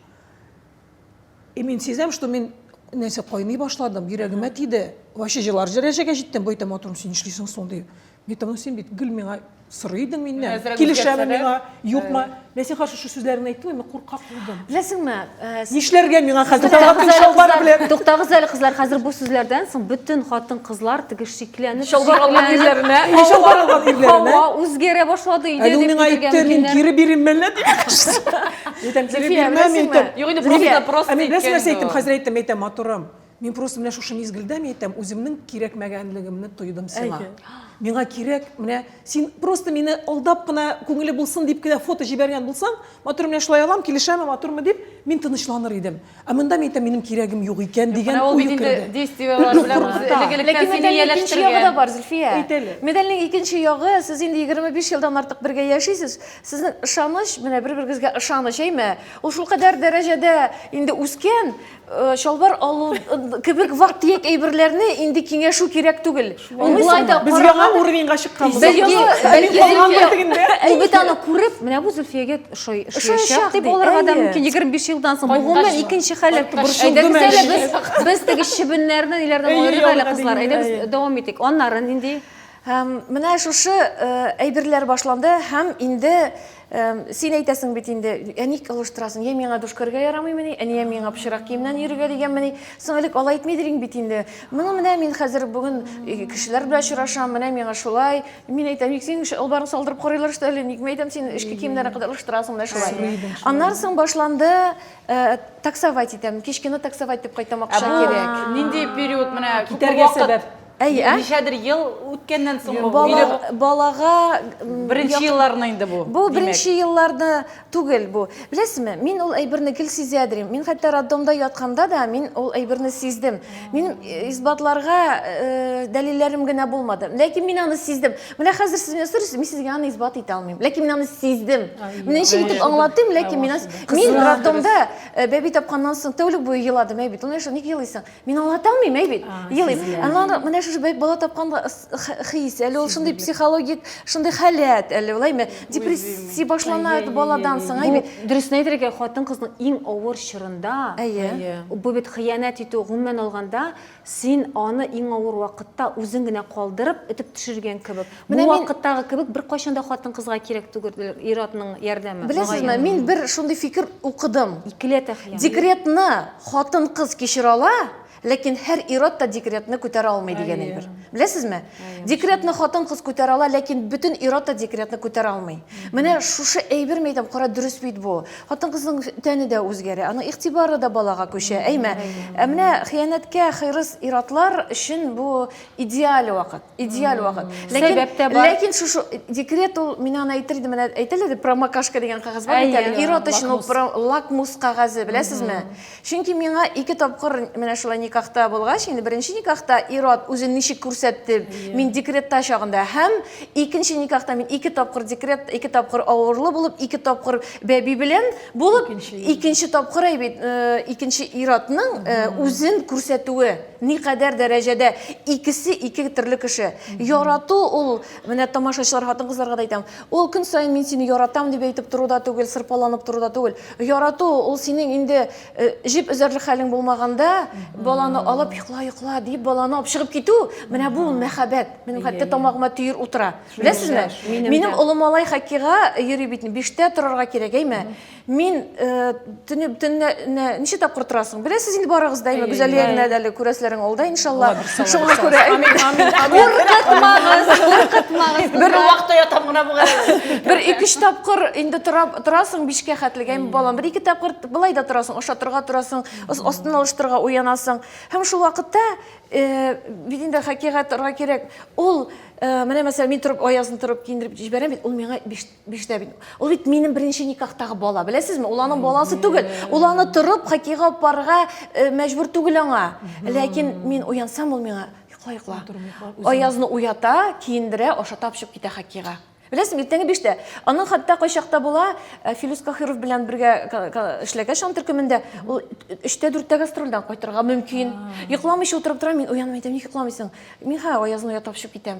И мин сизәм, что мин нәрсә кайный башладым, йөрәгемә тиде. Вообще җылар дәрәҗәгә җиттем, байтам матурым, син нишлисең соң ди. Битам, син бит гел миңа сорый идең миннән. Килешәме миңа, юкмы? Мин сиңа каршы шу сүзләрне әйттем, әмма куркак булдым. Беләсеңме? Э, Нишләргә миңа хәзер? Туктагыз әле кызлар, хәзер бу сүзләрдән соң бөтен хатын-кызлар тегешчи Икеләнеп Чалбар алган шикләнеп, ирләренә. Әйе, чалбар алган ирләренә. Һава үзгәрә башлады өйдә Әле ул дип миңа көтелгән әйтте, мин мөмкиннәр. кире бирим мәллә дип. Әйтәм, кире Зөлфия, бирмәм, беләсеңме? әйтәм. Юк, инде Зөлфия, просто- просто Ә мин беләсең әйткән нәрсә инде әйттем, ул. хәзер әйтәм, әйтәм, матурым. Мин просто менә шушы мизгелдә мин әйтәм, үземнең кирәкмәгәнлегемне тойдым сиңа. Әйе. Миңа кирәк, менә син просто мине алдап кына, күңеле булсын дип кенә фото җибәргән булсаң, матурым, менә шулай алам, килешәме, матурмы дип, мин тынычланыр идем. Ә монда мин әйтәм, минем кирәгем юк икән дигән уй керде. Менә ул бит инде действиеләр белән үзе элек-электән сине ияләштерә. Ләкин медальнең икенче ягы да бар, Зөлфия. Әйт әле. Медальнең икенче ягы, сез инде 25 елдан артык бергә яшисез. Сезнең ышаныч, менә бер-берегезгә ышаныч, әйме? Ул шулкадәр дәрәҗәдә инде үскән, чалбар алу кебек вак-төяк әйберләрне инде киңәшү кирәк түгел. Ул болай да Без яңа уровеньга чыкканбыз. Без Ул бит аны күреп, менә бу Зөлфиягә ошаячак дип булырга да мөмкин. 25 елдан соң гомумән икенче халәт борчылдым әле. Без без теге чебеннәрне ниләрдән аерыйк әле кызлар. Әйдә без дәвам итик. Аннары нинди? Менә шушы әйберләр башланды һәм инде Син әйтәсең бит инде, ә ник алыштырасың? Я миңа душкарга ярамыймыни, ә я миңа пычрак киемнән йөрергә дигәнмени? Соң элек алай әйтмидериң бит инде. Моны менә мин хәзер бүген кешеләр белән очрашам, менә миңа шулай. Мин әйтәм, ник синең чалбарың салдырып карыйлар что ли? Никме әйтәм, син эшке киемнәрен кадәр алыштырасың менә шулай. Аннан соң башланды таксовать итәм. Кичкене таксовать итеп кайтам, акча кирәк. Нинди период менә китәргә сәбәп? Әй, ә? Ничәдер ел үткәннән соң бу Бала, биреп балага м, беренче як- елларны инде бу. Бу димәк. беренче елларны түгел бу. Беләсезме, мин ул әйберне гел сизә дим. Мин хәтта роддомда ятканда да мин ул әйберне сиздем. Мин э, исбатларга э, дәлилләрем генә булмады. Ләкин мин аны сиздем. Менә хәзер сез менә сорыйсыз, мин сезгә аны исбат итә алмыйм. Ләкин мин аны сиздем. Менә ничек итеп аңлатыйм, ләкин мин аны- мин роддомда э, бәби тапканнан соң тәүлек буе еладым, әй бит. Ул нәрсә ник елыйсың? Мин аңлата алмыйм, әй бит, елыйм. Анлар менә шушы бәйт бала тапкан хис, әле ул шундый психологик, шундый халәт, әле улайме, депрессия башлана баладан соң, әй бит. Дөресен әйтергә, хатын-кызның иң авыр чорында, бу бит хыянәт итү, гомумән алганда, син аны иң авыр вакытта үзең генә калдырып, этеп төшергән кебек. Бу Менә мин- вакыттагы кебек беркайчан да хатын-кызга кирәк түгелдер ир-атның ярдәме. Беләсезме, мөгаен. мин бер шундый фикер укыдым. Икеләтә хыян. Декретны хатын-кыз кичерә ала, ләкин һәр ир-ат та декретны күтәрә алмый дигән Әйе. әйбер. Беләсезме? Әйе, Декретны хатын-кыз күтәрә ала, ләкин бөтен ир-ат та декретны күтәрә алмый. Менә шушы әйбер мәйтәм, кара дөрес бит бу. Хатын-кызның тәне дә үзгәрә, аның игътибары да балага күчә, әйме? Ә менә хыянәткә хырыс ир-атлар өчен бу идеаль вакыт. идеаль вакыт сәбәп тә бар ләкин шушы декрет ул мин аны әйтер идем менә әйтелә дә промокашка дигән кәгазь бар бит әле ир-ат өчен ул лакмус кәгазе беләсезме чөнки миңа ике тапкыр менә шулай никахта булгач инде беренче никахта ир-ат үзен ничек күрсәтте мин декретта чагында һәм икенче никахта мин ике тапкыр декрет ике тапкыр авырлы булып ике тапкыр бәби белән булып икенче тапкыр әйбит икенче ир-атның үзен күрсәтүе Никадәр дәрәҗәдә икесе ике төрле кеше. Ярату ул, менә тамашачылар хатын-кызларга да әйтәм, ул көн саен мин сине яратам дип әйтеп тору да түгел, сырпаланып тору да түгел. Ярату ул синең инде э, җеп өзәрлек хәлең булмаганда, баланы алып йокла, йокла дип баланы алып чыгып китү, менә бу мәхәббәт. Минем хәтта тамагыма төер утыра. Беләсезме? Минем олы малай хоккейга йөри бит, биштә торырга кирәк, әйме? Мин э, төне төнне ничә тапкыр торасың? Беләсез инде барыгыз да, әйме, Гүзәлия генә дә әле күрәсләрен алда, иншалла. Шуңа күрә әйме. Куркытмагыз, куркытмагыз. Бер вакытта ятам гына бугай. Бер ике-өч тапкыр инде торасың бишкә хәтлегә, әйме, балам. Бер ике тапкыр былай да торасың, ашатырга торасың, астын алыштырга уянасың. Һәм шул вакытта э, бит инде хакыйкатьрга кирәк. Ул э, менә мәсәлән, мин торып аязын торып киендереп җибәрәм бит, ул миңа биш Биштә бит. Ул бит минем беренче никахтагы бала. Беләсезме? Ул аның баласы түгел. Ул аны торып хоккейга алып барырга э, мәҗбүр түгел аңа. Ләкин мин уянсам, ул миңа йокла, йокла. Аязны уята, киендерә, ашата алып чыгып китә хоккейга. Беләсезме, иртәнге биштә. Аның хәтта кайчакта була, э, Филүс Кахиров белән бергә ка- ка- эшләгәч аның төркемендә, ул өчтә дүрттә гастрольдән кайтырга мөмкин. Йокламыйча утырып тора, мин уянмый әйтәм, ник йокламыйсың? Мин хә аязны уята алып чыгып китәм.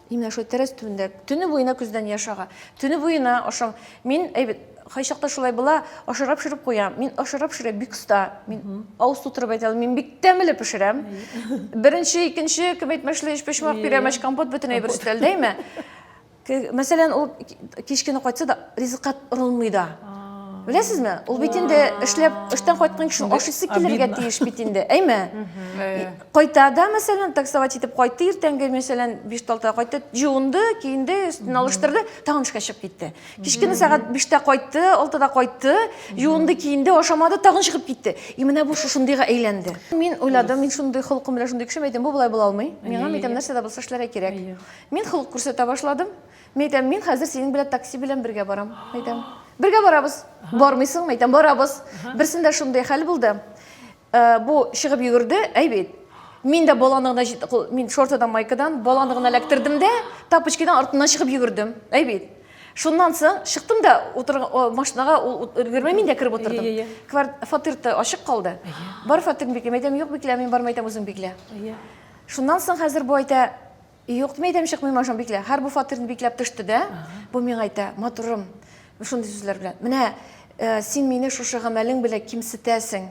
Именно шул тәрәз төбендә төне буена көздән яш ага. Төне буена ашам. Мин әйбәт кайчакта шулай була, ашарга пешереп куям. Мин ашарга пешерә бик оста. Мин авыз тутырып әйтә мин бик тәмле пешерәм. Беренче, икенче кем әйтмешли, өч почмак пирәмәч, компот бөтен әйбер өстәлдәме? Мәсәлән, ул кичкене кайтса да, ризыкка орылмый да. Беләсезме? Ул бит инде эшләп, эштән кайткан кеше ашыйсы килергә тиеш бит инде, әйме? Кайта да, мәсәлән, таксовать итеп кайтты иртәнге, мәсәлән, 5-6 кайтты, җуынды, киенде, өстен алыштырды, тагын эшкә чыгып китте. Кичкене сәгать 5-тә кайтты, 6-да кайтты, җуынды, киенде, ашамады, тагын чыгып китте. И менә бу шушындыйга әйләнде. Мин уйладым, мин шундый холкым белән шундый кешем, әйтәм, бу болай була алмый. Миңа, әйтәм, нәрсә дә булса эшләргә кирәк. Мин холык күрсәтә башладым. Мин әйтәм, мин хәзер синең белән такси белән бергә барам, әйтәм. Бергә барабыз. Бармыйсыңмы, әйтәм, барабыз. Берсендә шундый хәл булды. Бу чыгып йөгерде, әй бит. Мин дә баланы гына җит- мин шортадан майкадан баланы гына эләктердем дә, тапочкидан артыннан чыгып йөгердем. Әй бит. Шуннан соң чыктым да утыр машинага ул өлгермәй мин дә кереп утырдым. Ие, ие. Квар- Фатир да ачык калды. Бар фатирны биклим, әйтәм, юк, биклә, мин бармый әйтәм, үзең биклә. Ие. Шуннан соң хәзер бу әйтә, Юк, мин әйтәм, чыкмыйм ашан биклә. Хәр бу фатирны бикләп төште дә, бу миңа әйтә, матурым, шундый сүзләр белән. Менә э, син мине шушы гамәлең белән кимсетәсең.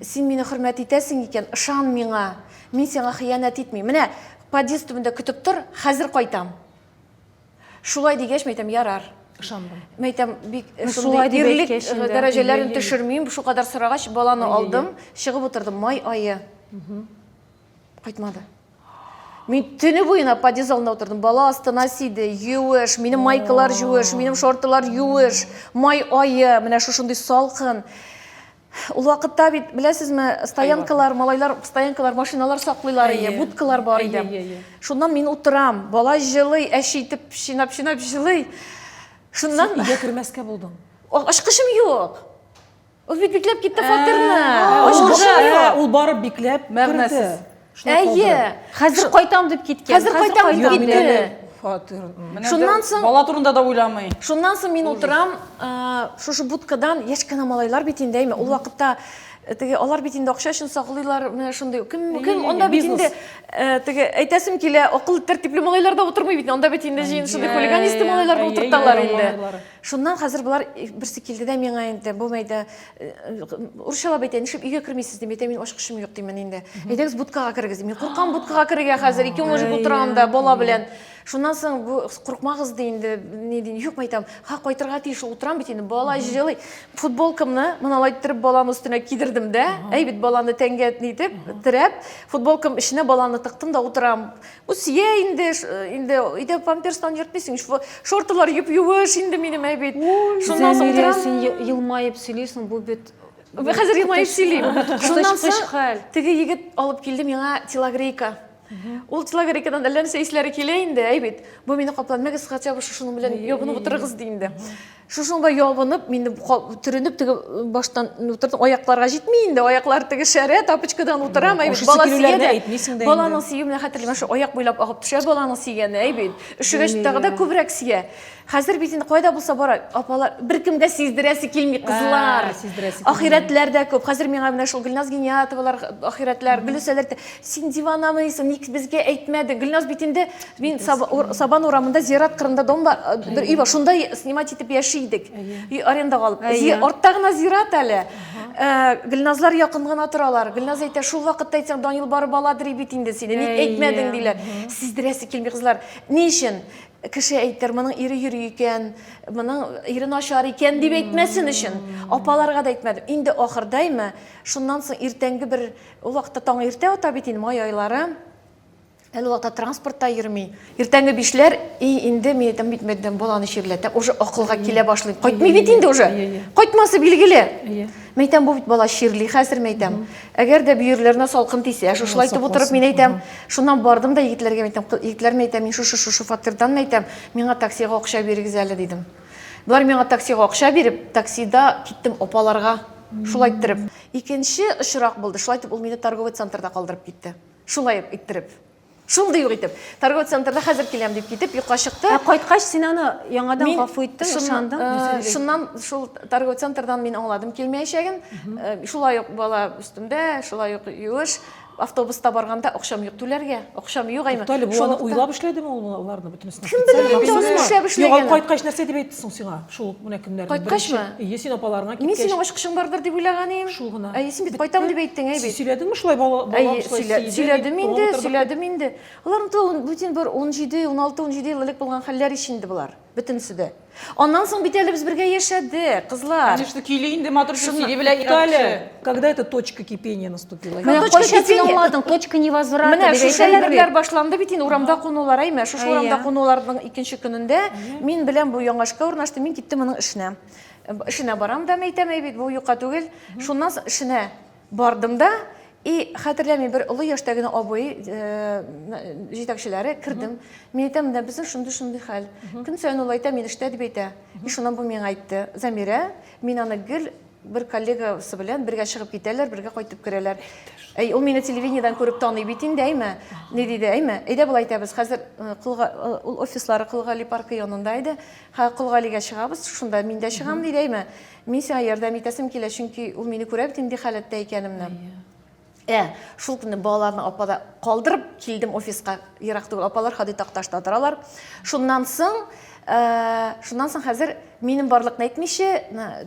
Син мине хөрмәт итәсең икән, ышан миңа. Мин сиңа хыянәт итмим. Менә подъезд төбендә көтеп тор, хәзер кайтам. Шулай дигәч, мәйтәм, ярар. Ышандым. Мәйтәм, бик ну, шулай дип ирлек э, дәрәҗәләрен төшермим. Шу кадәр сорагач, баланы алдым, чыгып утырдым. Май айы. Кайтмады. Мин төне буена подъезд алдында утырдым. Бала астына сиде, юеш, минем майкалар юеш, минем шортылар юеш. Май айы, менә шушындый салкын. Ул вакытта бит, беләсезме, стоянкалар, малайлар, стоянкалар, машиналар саклыйлар иде, будкалар бар иде. Шуннан мин утырам, бала җылый, әче итеп чинап-чинап җылый. Шуннан... Син өйгә кермәскә булдың. Ачкычым юк. Ул бит бикләп китте фатирны. Ул барып бикләп керде. Әйе. Хәзер кайтам дип киткән. Хәзер кайтам дип китте. Фатир. Шуннан соң бала турында да уйламый. Шуннан соң мин утырам, шушы будкадан яшь кенә малайлар бит инде, әйме, ул вакытта теге алар бит инде акча өчен саклыйлар, менә шундый. Кем кем анда бит инде теге әйтәсем килә, акыл тәртипле малайлар да утырмый бит. Анда бит инде җыен шундый хулиганистый малайлар да утырталар инде. Шуннан хәзер болар берсе килде дә миңа инде, бу мәйдә уршалап әйтә, нишләп өйгә кермисез дип әйтә, мин ачкычым юк димен инде. Әйдәгез будкага керегез дип. Мин куркам будкага керергә хәзер, ике мужик утырам да бала белән. Шуннан соң бу куркмагыз ди инде, ни ди, юк мәйтәм, ха кайтырга тиеш утырам бит инде, бала җылый. Футболкамны моналай иттереп баланы өстенә кидердем дә, әй бит баланы тәнгә нитеп, терәп, футболкам эченә баланы тыктым да утырам. Үсия инде, инде өйдә памперстан йөртмисең, шортылар юп-юеш инде минем әбит. Шуннан соң Зәмирә, син елмаеп сөйлисең, бу бит Хәзер елмаеп сөйлим. Шуннан соң теге егет алып килде миңа телогрейка. Ул телогрейкадан әллә нәрсә исләре килә инде, әй бит. Бу мине капланмагыз, хотя бы шушының белән ябынып утырыгыз ди инде. Шушыңда ябынып, мин төренеп теге баштан утырдым. Аякларга җитми инде, аяклар теге шәрә, тапочкадан утырам, әй бит бала сигәдә. Баланың сигүе менә хәтерләмә, шу аяк буйлап агып төшә баланың сигәне, әй бит. Өшегәч тагы да күбрәк сия. Хәзер бит инде кайда булса бара, апалар беркемгә сиздерәсе килми кызлар. Ахирәтләр дә күп. Хәзер миңа менә шул Гөлназ Гениятовалар ахирәтләр, Гөлүсәләр, син диванамы исең, ник безгә әйтмәдең? Гөлназ бит инде Мин Сабан урамында зират кырында дом бар, бер өй бар. Шунда снимать итеп яши идек. Өй арендага алып. Артта гына зират әле. Гөлназлар якын гына торалар. Гөлназ әйтә, шул вакытта әйтсәң, Данил барып аладыр бит инде сине. Ник әйтмәдең диләр. Сиздерәсе килми кызлар. Ни өчен? Кеше әйтер, моның ире йөри икән, моның ире начар икән дип әйтмәсен өчен. Апаларга да әйтмәдем. Инде ахырдаймы, шуннан соң иртәнге бер, ул вакытта таң иртә ата бит инде, май айлары. Әле вакытта транспортта йөрми. Иртәнге бишләр, и, инде мин әйтәм бит мәддән баланы чирләтә, уже акылга килә башлый. Кайтмый бит инде уже. Кайтмасы билгеле. Мин әйтәм, бу бит бала чирли хәзер, мин әйтәм. Әгәр дә бөерләренә салкын тисә, шушылай итеп утырып, мин әйтәм, шуннан бардым да егетләргә әйтәм, егетләр мин әйтәм, мин шушы шушы фатирдан мин әйтәм, миңа таксига акча бирегез әле дидем. Болар миңа таксига акча биреп, таксида киттем апаларга. Шулай иттереп. Икенче очрак булды. Шулай итеп ул мине торговый центрда калдырып китте. Шулай ук иттереп. Шундый ук итеп. Торговый центрда хәзер киләм дип китеп, юкка чыкты. Ә кайткач син аны яңадан гафу иттең, ышандың? Э, шуннан шул торговый центрдан мин аңладым килмәячәген. Э, шулай ук бала өстемдә, шулай ук юеш автобуста барганда акчам юк түләргә акчам юк әйме шулай уйлап эшләдеме ул аларны бөтенесен кем белә инде аны эшләп эшләгәнен югап кайткач нәрсә дип әйтте соң сиңа Шул ук менә кемнәрне Кайткачмы? Ие, син апаларыңа киткәч. Мин синең ачкышың бардыр дип уйлаган идем. Шул гына. Әйе, син бит кайтам дип әйттең, әйе бит. Сөйләдеңме шулай бала балам шулай сөйләде? Сөйләдем инде, сөйләдем инде. Алар да бүтән бер 17, 16, 17 ел элек булган хәлләр ич инде болар. Бөтенесе дә. Аннан соң бит әле без бергә яшәдек, кызлар. Конечно, көйли инде матур сөйли белә. Туктале. Когда эта точка кипения наступила? Менә точка кайчан син кипения? аңладың, точка невозврата Менә дип шушы әйтәләр әйберләр бит. башланды бит инде урамда кунулар, әйме, шушы Әйе. урамда кунуларның икенче көнендә мин белән бу яңашка урнаштым, мин киттем аның эшенә. Э, Эшенә барам да мәйтәм, әй бит бу юка түгел. Шуннан соң эшенә бардым да и хәтерләмим бер олы яшьтә генә абый э, м, җитәкчеләре кердем. Мин әйтәм, менә безнең шундый шундый хәл. Көн саен ул әйтә, мин эштә дип әйтә. И шуннан бу миңа әйтте. Замирә, мин аны гел Бер коллегасы белән бергә чыгып китәләр, бергә кайтып керәләр. Әй, ул мине телевидениедән күреп таный бит инде, әйме? Ни диде, әйме? Әйдә болай итәбез, хәзер э, Кулга, э, ул офислары Кулгали паркы янында иде. Ха, Кулгалигә чыгабыз, шунда мин дә чыгам, диде, әйме? Мин сиңа ярдәм итәсем килә, чөнки ул мине күрә бит инде халәттә икәнемне. Ә, шул көнне балаларны апада калдырып килдем офиска, ерак түгел, апалар Хадый Такташта торалар. Шуннан соң, ә, шуннан соң хәзер минем барлыкны әйтмичә,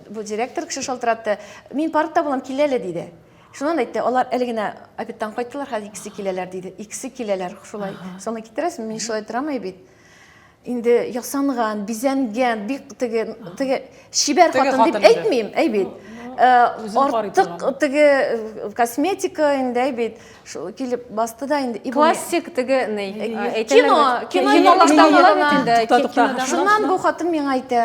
бу директор кеше шалтыратты, мин паркта булам, кил әле, диде. Шуннан әйтте, алар әле генә обедтан кайттылар, хәзер икесе киләләр, диде. Икесе киләләр, шулай. Соңны китерәсең, мин шулай торамый бит. инде ясанган, бизәнгән, бик теге теге чибәр хатын дип әйтмим, әй бит. Э, артык теге э, косметика инде әй бит. Шул килеп басты да инде. Классик теге ни? Э, кино, кино кинолардан инде. Шуннан бу хатын миңа әйтә.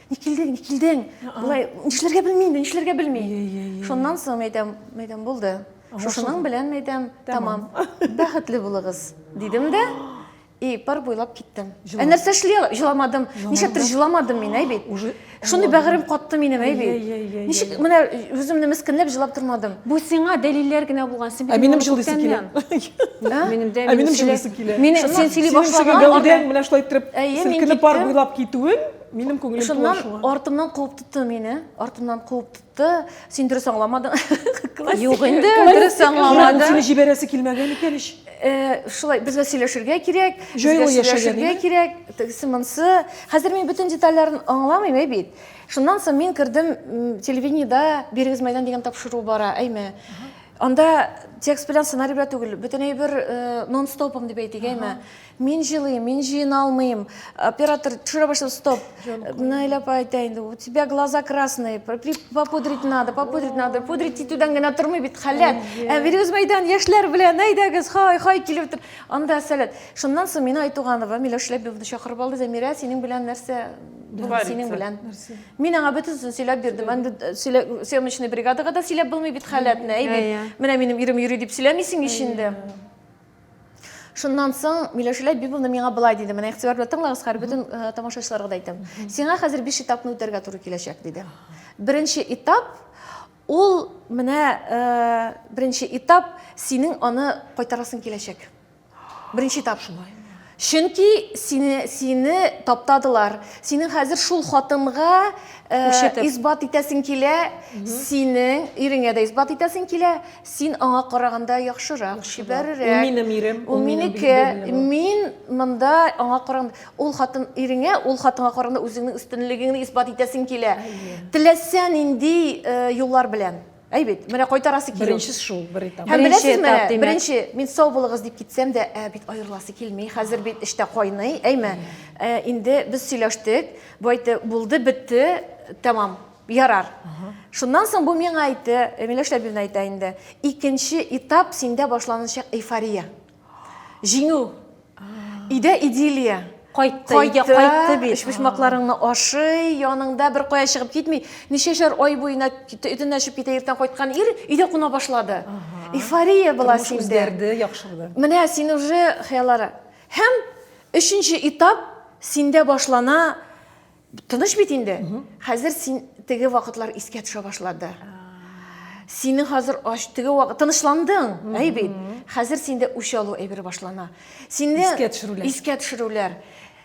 не килдең не килдең былай нишләргә белми инде нишләргә белми шуннан соң мин әйтәм мин әйтәм булды шушының белән мин әйтәм тәмам бәхетле булыгыз дидем дә и пар буйлап киттем ә нәрсә эшли җыламадым ничектер җыламадым мин әй бит уже шундый бәгырем катты минем әй бит ничек менә үземне мескенләп җылап тормадым бу сиңа дәлилләр генә булган син ә минем җылыйсы килә минем дә ә минем җылыйсы килә син сөйли башлаган менә шулай иттереп селкенеп пар буйлап китүең Минем күңелем Шуннан шуңа. артымнан куып тотты мине. Артымнан куып тотты. Син дөрес аңламадың. Юк инде, дөрес аңламады. Сине җибәрәсе килмәгән икән ич. Э, шулай безгә сөйләшергә кирәк, безгә сөйләшергә кирәк, тегесе монсы. Хәзер мин бөтен детальләрен аңламыйм әй бит. Шуннан соң мин кердем телевидениедә бирегез мәйдан дигән тапшыру бара, әйме. Анда текст белән сценарий белән түгел, бөтенләй бер э, нон-стопом дип әйтик, әйме. Мин җылыйм, мин җыена алмыйм. Оператор төшерә башлады, стоп. Наилә апа әйтә инде, у тебя глаза красные, при- попудрить надо, попудрить надо. Пудрить итүдән генә тормый бит халәт. Ә Вирюз мәйдан яшьләр белән, әйдәгез, хай, хай килеп тор. Анда сәләт. Шуннан соң Мина Айтуганова, Миләүш Ләбибовны чакырып алды, Зәмирә, синең белән нәрсә булды, Творится. синең белән. Мин аңа бөтенесен сөйләп бирдем. Анда э, сөйлә- съемочный бригадага да сөйләп булмый бит халәтне. Әй бит, Әйе. менә минем ирем йөри дип сөйләмисең ич инде. Шуннан соң Миләүшә Ләбибовна миңа былай диде, менә игътибар белән тыңлагыз, хәзер бөтен э, тамашачыларга да әйтәм. Сиңа хәзер биш этапны үтәргә туры киләчәк, диде. Беренче этап ул менә э, беренче этап синең аны кайтарасың киләчәк. Беренче этап шулай. Чөнки сине, сине таптадылар. Синең хәзер шул хатынга э, Күрсәтеп. исбат итәсең килә, синең иреңә дә исбат итәсең килә. Син аңа караганда яхшырак, чибәрерәк. Ул минем ирем, Ул ул минем минеке. бигдә минем. Мин монда аңа караганда ул хатын иреңә, ул хатынга караганда үзеңнең өстенлегеңне исбат итәсең килә. Теләсә нинди э, юллар белән. Әй бит, менә кайтарасы килү. Беренче шул, бер этап. Һәм беләсезме, беренче, беренче мин сау булыгыз дип китсәм дә, ә бит аерыласы килми. Хәзер бит эштә кайный, әйме? Ә, инде без сөйләштек, бу әйтте, булды, бетте, тәмам, ярар. Шуннан соң бу миңа әйтте, Миләш Ләбибна әйтә инде, икенче этап синдә башланачак эйфория. Җиңү. Өйдә идиллия. Кайтты, өйгә кайтты бит. Өчпочмакларыңны ашый, яныңда бер кая чыгып китми. Ничәшәр ай буена өтен ачып китә, иртән кайткан ир өйдә куна башлады. Эйфория була синдә. Үзгәрде, яхшырды. Менә син уже хыяллары. Һәм өченче этап синдә башлана Тыныч бит инде. Хәзер син теге вакытлар искә төшә башлады. Синең хәзер ач теге вакыт тынычландың, әй бит. Хәзер синдә үч алу әйбер башлана. Синдә искә төшерүләр. Искә төшерүләр.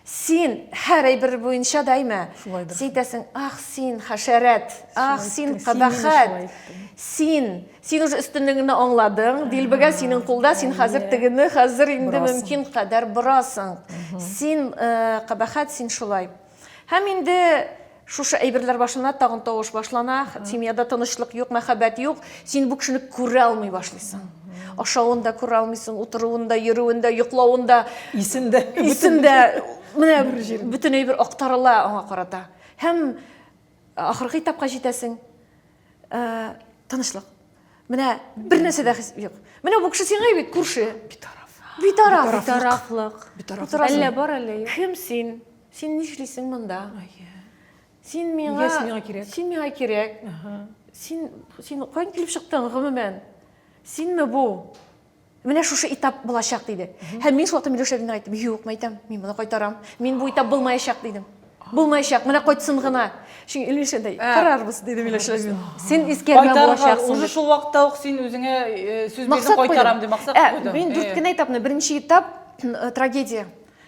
Син һәр әйбер буенча да әйме. Син әйтәсең, ах, син хәшәрәт, ах, син кабахәт. Син Син уже өстенлегеңне аңладың, дилбегә синең кулда, син хәзер тегене хәзер инде мөмкин кадәр борасың. Син кабахәт, син шулай. Һәм инде шушы әйберләр башына тагын тавыш башлана, семьяда тынычлык юк, мәхәббәт юк, син бу кешене күрә алмый башлыйсың. Ашавын да күрә алмыйсың, утыруын да, йөрүен дә, йоклавын да. Исен дә. Исен дә. Менә бөтен әйбер актарыла аңа карата. Һәм ахыргы этапка җитәсең. Тынычлык. Менә бер нәрсә дә хис юк. Менә бу кеше сиңа бит күрше. Битараф. Битараф. Битарафлык. Битараф. Әллә бар әллә юк. Кем син? Син нишлисең монда? Син миңа Син миңа кирәк. Син миңа кирәк. Син син каян килеп чыктың гомумән? Синме бу? Менә шушы этап булачак диде. Һәм мин шул вакытта Миләүшә генә әйттем, юк, мәйтәм, мин моны кайтарам. Мин бу этап булмаячак дидем. Булмаячак, менә кайтсын гына. Чөнки Илмиршә дә карарбыз диде Миләүшә. Син искәрмә булачаксың. Уже шул вакытта ук син үзеңә сүз бирдең, кайтарам дип максат куйдың. Мин дүрт кенә этапны, беренче этап трагедия.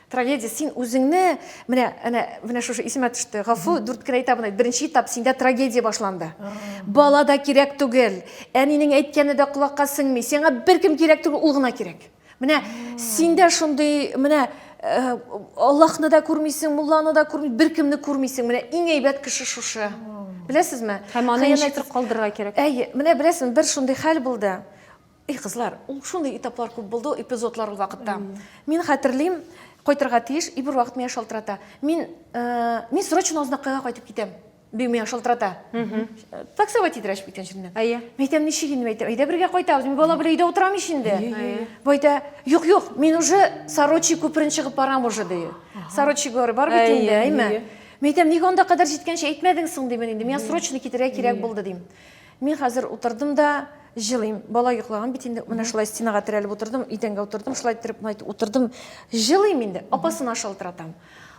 Трагедия, син үзеңне, менә, әнә, менә шушы исемә төште, гафу, дүрт кенә этабын әйт, беренче этап, синдә трагедия башланды. Бала да кирәк түгел, әнинең әйткәне дә колакка сеңми, сиңа беркем кирәк түгел, ул гына кирәк. Менә синдә шундый, менә э, Аллаһны да күрмисең, мулланы да күрмисең, беркемне күрмисең. Менә иң әйбәт кеше шушы. Беләсезме? Һәм аны ничектер калдырырга кирәк. Әйе, менә беләсезме, бер шундый хәл булды. Эй кызлар, ул шундый этаплар күп булды ул эпизодлар ул вакытта. Мин хәтерлим, кайтырга тиеш, и бервакыт миңа шалтырата. Мин, мин срочно Азнакайга кайтып китәм. Бу миңа шалтырата. Таксовать итәрәч бит җиреннән. Әйе. Мәйтәм ничек инде мәйтәм? Әйдә бергә кайтабыз. Мин бала белән өйдә утырам ич инде. Байтә, юк, юк, мин уже Сорочи күперен чыгып барам уже ди. Сорочи горы бар бит инде, әйме? Мәйтәм, ник анда кадәр җиткәнче әйтмәдең соң димен инде. Миңа срочно китәргә кирәк булды дим. Мин хәзер утырдым да җылыйм. Бала йоклаган бит инде. Менә шулай стенага терәлеп утырдым, идәнгә утырдым, шулай иттереп мына утырдым. Җылыйм инде. Апасына шалтыратам.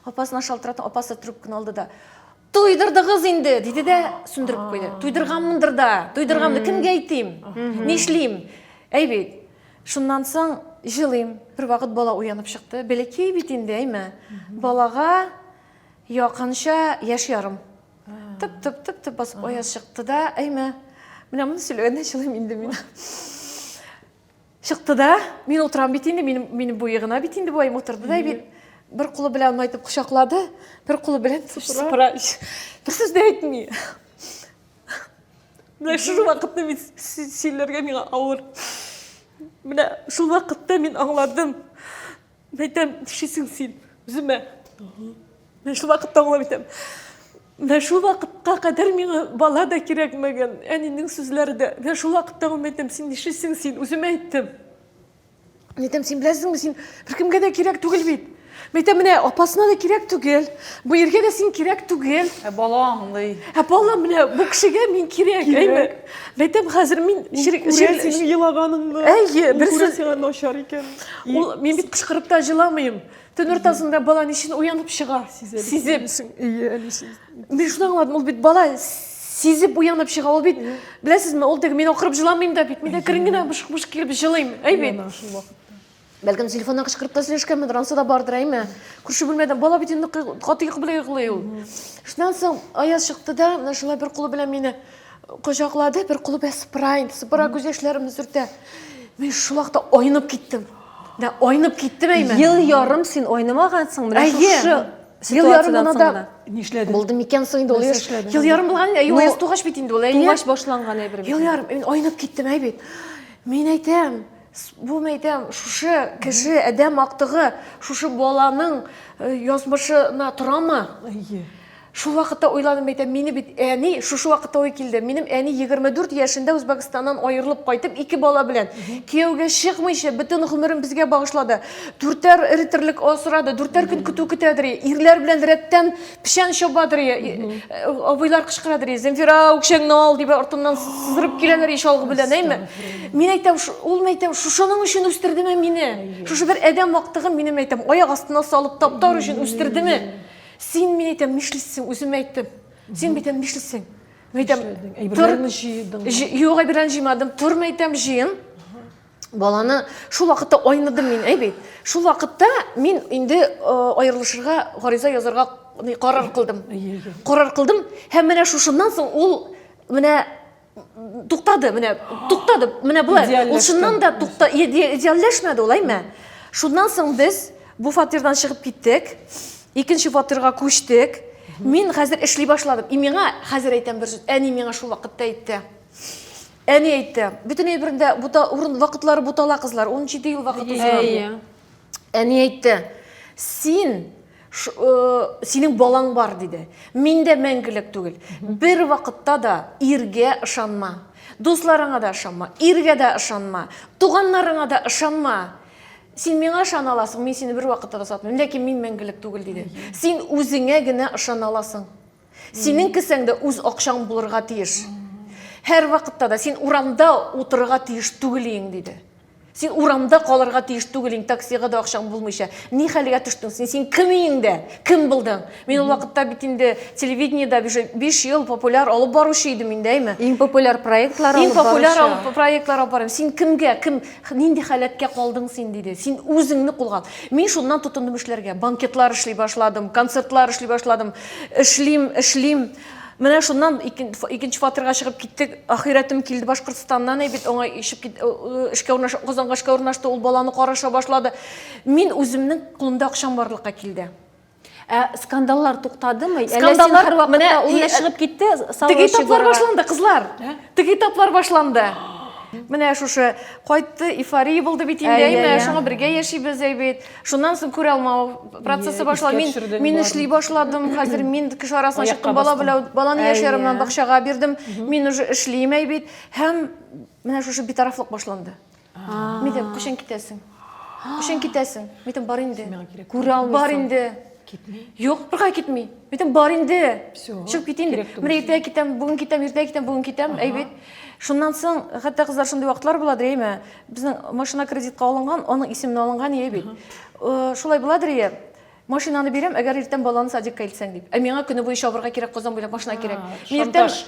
Апасына шалтыратам, апасы трубканы алды да, Туйдырдыгыз инде, диде дә сүндереп куйды. Туйдырганмындыр да, туйдырганмын. Кемгә әйтим? Нишлим? Әй бит. Шуннан соң җылыйм. Бервакыт бала уянып чыкты. Бәләкәй бит инде, әйме? Балага якынча яшь ярым. Тып тып тып тып басып оя чыкты да, әйме. Менә моны сөйләгәндә чылым инде мин. Чыкты да, мин утырам бит инде, мин мин буе гына бит инде буем утырды да бит. Бер кулы белән аны әйтеп кочаклады, бер кулы белән сыпыра. Бер сүз дә әйтми. Менә шул вакытны мин сөйләргә миңа авыр. Менә шул вакытта мин аңладым. Мәйтәм, тишесең син, үземә. Менә шул вакытта аңлап итәм. Менә шул вакытка кадәр миңа бала да кирәкмәгән, әнинең сүзләре дә. Менә шул вакытта ул мәйтәм, син нишлисең син, үзем әйттем. Мәйтәм, син беләсеңме, син беркемгә дә кирәк түгел бит. Мәйтәм, менә апасына да кирәк түгел, бу иргә дә син кирәк түгел. Ә бала аңлый. Ә бала менә бу кешегә мин кирәк, әйме? Мәйтәм, хәзер мин җир җир синең елаганыңны. Әйе, берсе сиңа начар икән. Ул мин бит кычкырып та җыламыйм. Төн уртасында бала ничен уянып чыга? Сизеп. Әйе, әнисе. Мин шуны аңладым, ул бит бала сизеп уянып чыга. Ул бит, беләсезме, ул теге мин акырып җыламыйм да бит. Мин әкрен генә бышк-бышк килеп җылыйм. Әйе бит. Бәлкем телефоннан кычкырып сөйләшкәнмендер, анысы да бардыр, әйме? Күрше бүлмәдән бала бит инде каты йокы белән йоклый ул. Шуннан соң Аяз чыкты да, менә шулай бер кулы белән мине кочаклады, бер кулы белән сыпыра инде, сыпыра күз яшьләремне сөртә. Мин шул вакытта айнып киттем. Да айнып киттем әйме? Ел ярым син айнымагансың, менә шушы Ел ярым гына да нишләдең? Булды микән соң инде ул яшь? Ел ярым булган, әйе, ул тугач бит инде ул, әйе. Тугач башланган әйбер бит. Ел ярым, мин айнып киттем, әй бит. Мин әйтәм, Булмайтам, шушы кеше әдәм актыгы, шушы баланың э, язмышына торамы? Әйе. Шул вакытта уйланып әйтәм, мине бит әни шушы вакытта ой килде. Минем әни 24 яшендә Үзбәкстаннан аерылып кайтып, ике бала белән кияүгә чыкмыйча бөтен гомерен безгә багышлады. Дүртәр риттерлек асрады, дүртәр көн көтү көтәдер. Ирләр белән рәттән Печән чабадыр, абыйлар кычкырадыр, Земфира, үкшәңне ал, дип артыннан сызырып киләләр еш алгы белән, әйме? Мин әйтәм, ул мәйтәм, шушының өчен үстердеме мине? Шушы бер адәм мактыгын минем әйтәм, аяк астына салып таптар өчен үстердеме? Син мин әйтәм, нишлисең, үзем әйттем. Син битәм нишлисең? Мәйтәм, әйберләрне җыйдың. Юк, әйберләрне җыймадым. Тор мәйтәм, җыен. баланы шул вакытта айныдым мин әй бит шул вакытта мин инде аерылышырга гариза язарга карар кылдым карар кылдым һәм менә шушыннан соң ул менә туктады менә туктады менә болай ул чыннан да тукта идеальләшмәде ул әйме шуннан соң без бу фатирдан чыгып киттек икенче фатирга күчтек мин хәзер эшли башладым и миңа хәзер әйтәм бер әни миңа шул вакытта әйтте Әни әйтте, бөтен әйберендә бута урын вакытлары бутала кызлар, 17 ел вакыт узган. Әйе. Әни әйтте, син ш, э, синең балаң бар диде. Мин дә мәңгелек түгел. Бер вакытта да иргә ышанма. Дусларыңа да ышанма, иргә дә ышанма, туганнарыңа да ышанма. Син миңа ышана аласың, мин сине бер вакытта да сатмыйм, ләкин мин мәңгелек түгел диде. Син үзеңә генә ышана аласың. Синең кесәң дә үз акчаң булырга тиеш. Һәр вакытта да син урамда утырырга тиеш түгел иең, диде. Син урамда калырга тиеш түгел иң таксига да акчаң булмыйча. Ни хәлгә төштең син? Син кем иең дә? Кем булдың? Мин ул вакытта бит инде телевидениедә уже 5 ел популяр алып баручы идем инде, әйме? Иң популяр проектлар алып баручы. Иң популяр алып проектлар алып барам. Син кемгә, кем, нинди халәткә калдың син диде. Син үзеңне кулга. Мин шуннан тотындым эшләргә. Банкетлар эшли башладым, концертлар эшли башладым. Эшлим, эшлим. Менә шуннан икенче фатирга чыгып киттек. Ахирәтем килде Башкортстаннан, әй бит аңа ишеп кит, э, э, эшкә урнаш, Казанга эшкә урнашты, ул баланы караша башлады. Мин үземнең кулымда акчам барлыкка килде. Ә скандаллар туктадымы? Скандаллар һәрвакытта менә ул э, чыгып китте, Теге таплар башланды, кызлар. Теге таплар башланды. Менә шушы кайтты, эйфория булды бит инде, әйме? Шуңа бергә яшибез, әй бит. Шуннан соң күрә алмау процессы башлау. Мин мин эшли башладым. Хәзер мин кеше арасына чыктым, бала белән баланы яшьләремнән бакчага бирдем. Мин уже эшлим әйбит һәм менә шушы битарафлык башланды. Мин дә кушен китәсең. Кушен китәсең. Мин бар инде. Күрә алмыйсың. Бар инде. Китми. Юк, бергә китми. Мин бар инде. Чыгып китим. Мин иртә китәм, бүген китәм, иртә китәм, бүген китәм, әйбит. Шуннан соң хәтта кызлар шундый вакытлар була, дреме? Безнең машина кредитка алынган, аның исеменә алынган ие бит. Э, шулай буладыр ие. Машинаны бирәм, әгәр иртән баланы садикка илтсәң дип. Ә миңа көне буе чабырга кирәк, Казан буйлап машина кирәк. Мин иртән шантаж.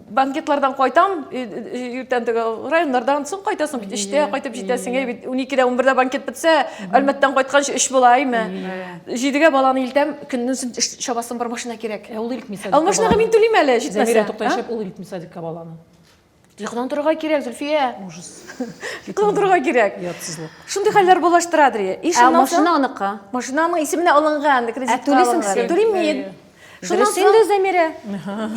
банкетлардан кайтам, и- и- иртән теге районнардан соң кайтасың бит, өчтә кайтып җитәсең, ие бит. Уникедә, унбердә банкет бетсә, Әлмәттән кайтканчы өч була, име? Җидегә баланы илтәм, көннең сон эш- чабасым бар, машина кирәк. Ә ул илтми Ә ул садикка машинага баланы. мин түлим әле, Зәмирә, җитмәсә. тукта, а? яшәп ул илтми садикка баланы. Йокыдан торырга кирәк, Зөлфия. Ужас. Йокыдан торырга кирәк. Ятсызлык. Шундый хәлләр булаштыра, Дри. Иш ә машина аныкы. Машинаның исеменә алынган, кредитка Ә түлисең син? Түлим мин. Дөрес инде, Зәмирә.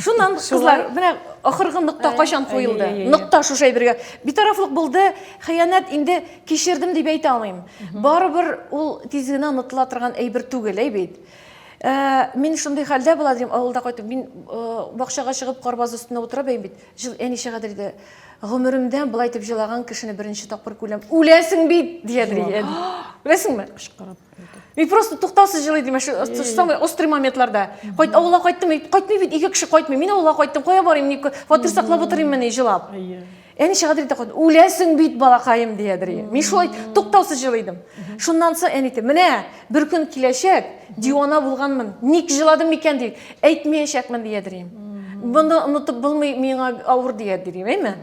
Шуннан, кызлар, менә ахыргы нокта кайчан куелды? Нокта шушы әйбергә. Битарафлык булды, хыянәт инде кичердем дип әйтә алмыйм. Барыбер ул тиз генә онытыла торган әйбер түгел, әй бит. Мин шундый хәлдә була, дим, авылда кайтып, мин бакчага чыгып, карбаз өстенә утыра бәйм бит. Жыл әни чыга диде. Гомеремдә былай дип җылаган кешене беренче тапкыр күләм. Үләсең бит, дия диде. Үләсеңме? Кычкырып. Мин просто туктаусыз җылый дим, самый острый моментларда. Кайт авылга кайттым, кайтмый бит, ике кеше кайтмый. Мин авылга кайттым, кая барыйм, фатир саклап утырыйммыни җылап. Әни шагыйрь итә калды. Үләсең бит, балакаем, диядер. Мин шулай туктаусыз җылыйдым. Шуннан соң әни әйтте, менә бер көн киләчәк, дивана булганмын, ник җыладым микән дип, әйтмәячәкмен, диядер. Моны онытып булмый, миңа авыр диядер, әйме?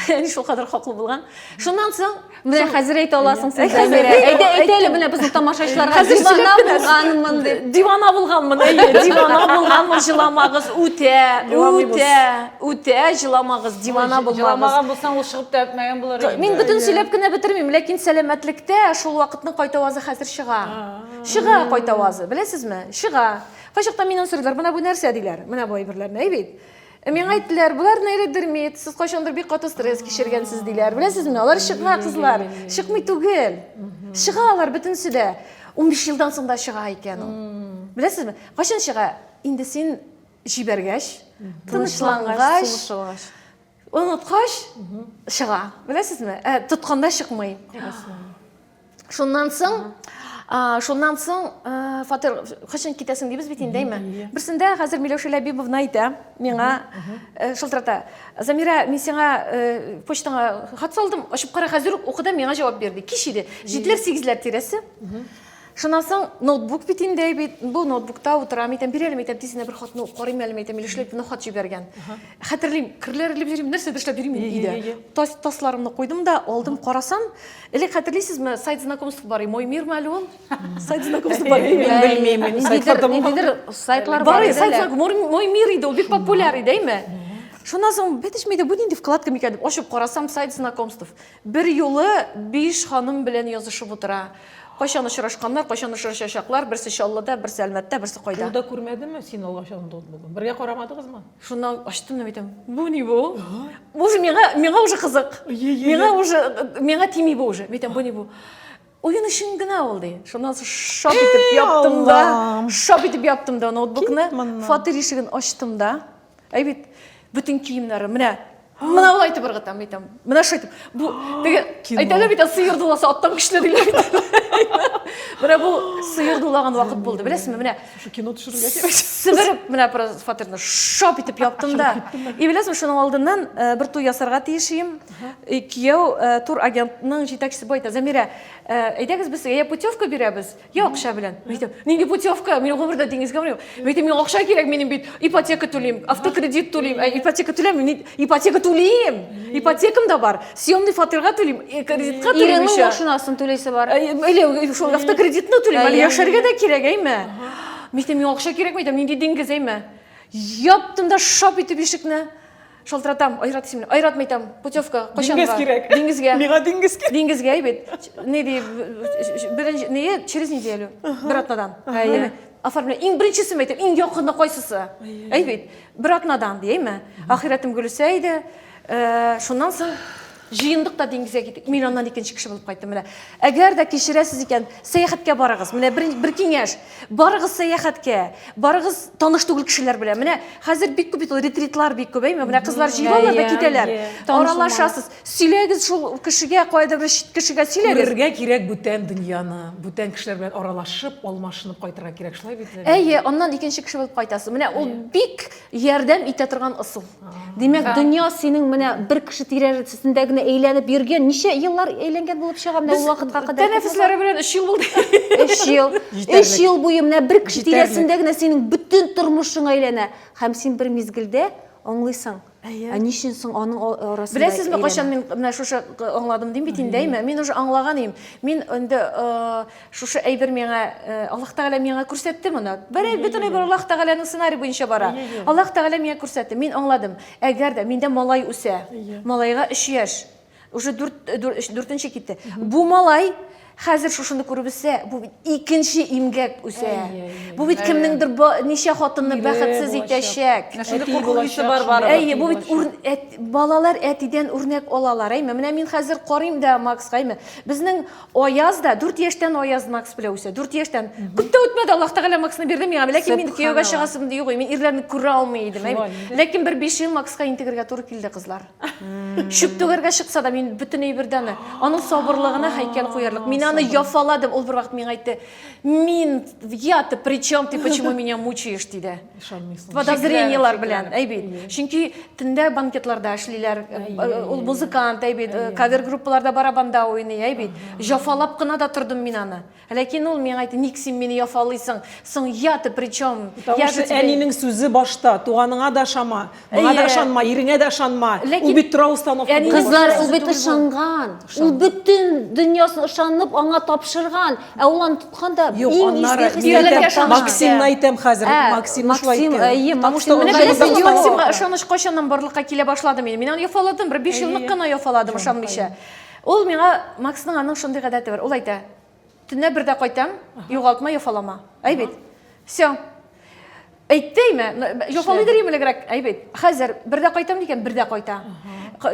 Әни шулкадәр хаклы булган. Шуннан соң Менә хәзер әйтә аласың син Замирә. Әйдә, әйтә әле менә безнең тамашачыларга дивана булганмын дип. Дивана булганмын, әйе, дивана булганмын, җыламагыз, үтә, үтә, үтә җыламагыз, дивана булмагыз. Җыламаган булсаң, ул чыгып та әтмәгән булыр инде. Мин бөтен сөйләп кенә бетермим, ләкин сәламәтлектә шул вакытның кайтавазы хәзер чыга. Чыга кайтавазы, беләсезме? Чыга. Кайчакта мине сорыйлар, менә бу нәрсә диләр, менә бу әйберләрне, әй бит. Ә миңа әйттеләр, болар нейродермит, сез кайчандыр бик каты стресс кичергәнсез, диләр. Беләсезме, алар чыга, кызлар, чыкмый түгел. Чыга алар бөтенесе дә. 15 елдан соң да чыга икән ул. Беләсезме, кайчан чыга? Инде син җибәргәч, тынычлангач, оныткач чыга. Беләсезме, ә тотканда чыкмый. шуннан соң шуннан соң фатир кайчан китәсең дибез бит инде әйме берсендә хәзер миләүшә ләбибовна әйтә миңа шылтырата замира мин сиңа почтаңа хат салдым ачып кара хәзер үк укыда миңа җавап бир ди кич иде җиделәр сигезләр тирәсе шуннан соң ноутбук бит инде бит бу ноутбукта утырам әйтәм бир әле әйтәм тиз генә бер хатны карыйм әле әйтәм миләүшә ләбибовна хат җибәргән хәтерлим керләр элеп йөрим нәрсәдер эшләп йөрим өйдә тасларымны куйдым да алдым карасам Элек хәтерлисезме, сайт знакомств бар, мой мир мәле ул? Сайт знакомств бар. Мин белмим, сайтларда булмаган. Нидер сайтлар бар. Бар, сайт знакомств, мой мир иде, ул бик популяр иде, әйме? Шуннан соң бетешми дә, бу нинди вкладка микән дип ачып карасам, сайт знакомств. Бер юлы биш ханым белән язышып утыра. Кайчан очрашканнар, кайчан очрашачаклар, берсе Чаллыда, берсе Әлмәттә, берсе кайда. Ул да күрмәдеме син алгача андуд булган? Бергә карамадыгызмы? Шуннан ачтым да әйтәм, бу ни бу? Бу уже миңа, миңа уже кызык. Миңа уже, миңа тими бу уже. Әйтәм, бу ни бу? Уен өчен генә ул ди. Шуннан соң шап итеп яптым да, шап итеп яптым да ноутбукны, фатир ишеген ачтым да. Әй бит, бөтен киемнәрем, менә мынау айтып ыргыта мен айтам мына шу айтып бу теге айтады бит сыйыр дуласа аттан күчле диләр бит менә бу сыйыр дулаган вакыт булды беләсезме менә шу кино төшерергә кирәк себер менә просто фатирны шап итеп яптым да и беләсезме шуның алдыннан э, бер туй ясарга тиеш идем кияү э, тур агентның җитәкчесе бу әйтә замирә э, әйдәгез без сезгә я путевка бирәбез Я акча белән. Мин әйтәм, нинди путевка? Мин гомердә диңгезгә бармыйм. Мин әйтәм, миңа акча кирәк, минем бит ипотека түлим, автокредит түлим. Ә ипотека түләмим, мин ипотека түлим. Ипотекам да бар. Съемный фатирга түлим, э, кредитка түлим Иренең еще. машинасын түлисе бар. Э, Или шул автокредитны түлим, әле Әйе. яшәргә дә кирәк, әйме? Мин әйтәм, миңа акча кирәк, мин әйтәм, нинди диңгез, әйме? Яптым да шап итеп ишекне. Шалтыратам, Айрат исемле. Айратмы әйтәм, путевка, кайчанга? Диңгез кирәк. Диңгезгә. Миңа диңгез кирәк. Диңгезгә әйбит. Ни ди, беренче, ни, через неделю, бер атнадан. Әйе. Оформление. Иң беренчесен әйтәм, иң якыны кайсысы? Әйбит. Бер атнадан, ди, әйме? Ахирәтем Гөлүсә иде. Э, шуннан соң Җыендык та диңгезгә киттек. Мин аннан икенче кеше булып кайттым. Менә әгәр дә кичерәсез икән, сәяхәткә барыгыз. Менә бер, бер киңәш. Барыгыз сәяхәткә. Барыгыз таныш түгел кешеләр белән. Менә хәзер бик күп бит ул ретритлар бик күп, әйме? Менә кызлар җыелалар да китәләр. Аралашасыз. Сөйләгез шул кешегә, кайда бер чит кешегә сөйләгез. Күрергә кирәк бүтән дөньяны. Бүтән кешеләр белән аралашып, алмашынып кайтырга кирәк. Шулай бит, Ләлә? Әйе, аннан икенче кеше булып кайтасыз. Менә ул бик ярдәм итә торган ысул. Димәк, дөнья синең менә бер кеше тирәсендә генә әйләнеп йөргән, ничә еллар әйләнгән булып чыга менә ул вакытка кадәр. Тәнәфесләре белән 3 ел булды. 3 ел. 3 ел буе менә бер кеше тирәсендә генә синең бөтен тормышың әйләнә һәм син бер мизгелдә аңлыйсың. Ә ни өчен соң аның арасында? Беләсезме, кайчан мин менә шушы аңладым дим бит инде, әйме? Мин уже аңлаган идем. Мин инде Шушы әйбер миңа э, Аллаһ Тәгалә миңа күрсәтте моны. Бер бөтенләй бер Аллаһ Тәгаләнең сценарий буенча бара. Аллаһ Тәгалә миңа күрсәтте. Мин аңладым. Әгәр дә миндә малай үсә, малайга 3 яшь, уже 4 дүртенче китте. Бу малай хәзер шушыны күреп үсә, бу бит икенче имгәк үсә. Бу бит кемнеңдер ничә хатынны бәхетсез итәчәк. Шундый куркыныч бар бар. Әйе, бу бит балалар әтидән үрнәк алалар. Әйме, менә мин хәзер карыйм да Макска, әйме. Безнең Аяз да 4 яшьтән Аяз Макс белән үсә. 4 яшьтән. Күп тә үтмәде, Аллаһ Тәгалә Максны бирде миңа. Ләкин мин кияүгә чыгасым дию гой. Мин ирләрне күрә алмый идем. Ләкин бер 5 ел Макска интегергә туры килде, кызлар. Чүп түгәргә чыкса да, мин бөтен әйбердән аның сабырлыгына һәйкәл куярлык. Мин аны яфаладым. Ул бервакыт миңа әйтте, мин я-то причем, ты почему меня мучаешь, диде. Ышанмыйсың. Подозрениелар белән, әйбит. Чөнки төндә банкетларда эшлиләр, ул музыкант, әйбит, кавер группаларда барабанда уйный, әйбит. Җафалап кына да тордым мин аны. Ләкин ул миңа әйтте, ник син мине яфалыйсың? Соң я ты причем? Я же тебе... Әнинең сүзе башта, туганыңа да шама. Моңа да ышанма, иреңә дә ышанма. Ул бит тора установка. Кызлар, ул бит ышанган. Ул бөтен дөньясын ышанып аңа тапшырган. Ә ул аны тоткан да иң изге хисләргә ышанган. Максимны әйтәм хәзер. Максимны шулай әйтәм. Максим, әйе, Максим. Менә беләсезме, Максимга ышаныч кайчаннан барлыкка килә башлады минем. Мин аны яфаладым, бер биш еллык кына яфаладым ышанмыйча. Ул миңа, Максның аның шундый гадәте бар. Ул әйтә, Төнлә бер дә кайтам, югалтма, йофалама. Әй бит. Все. Әйттейме? Йофалый дөрим элегрәк. Әй бит. Хәзер бер дә кайтам дигән, бер дә кайта.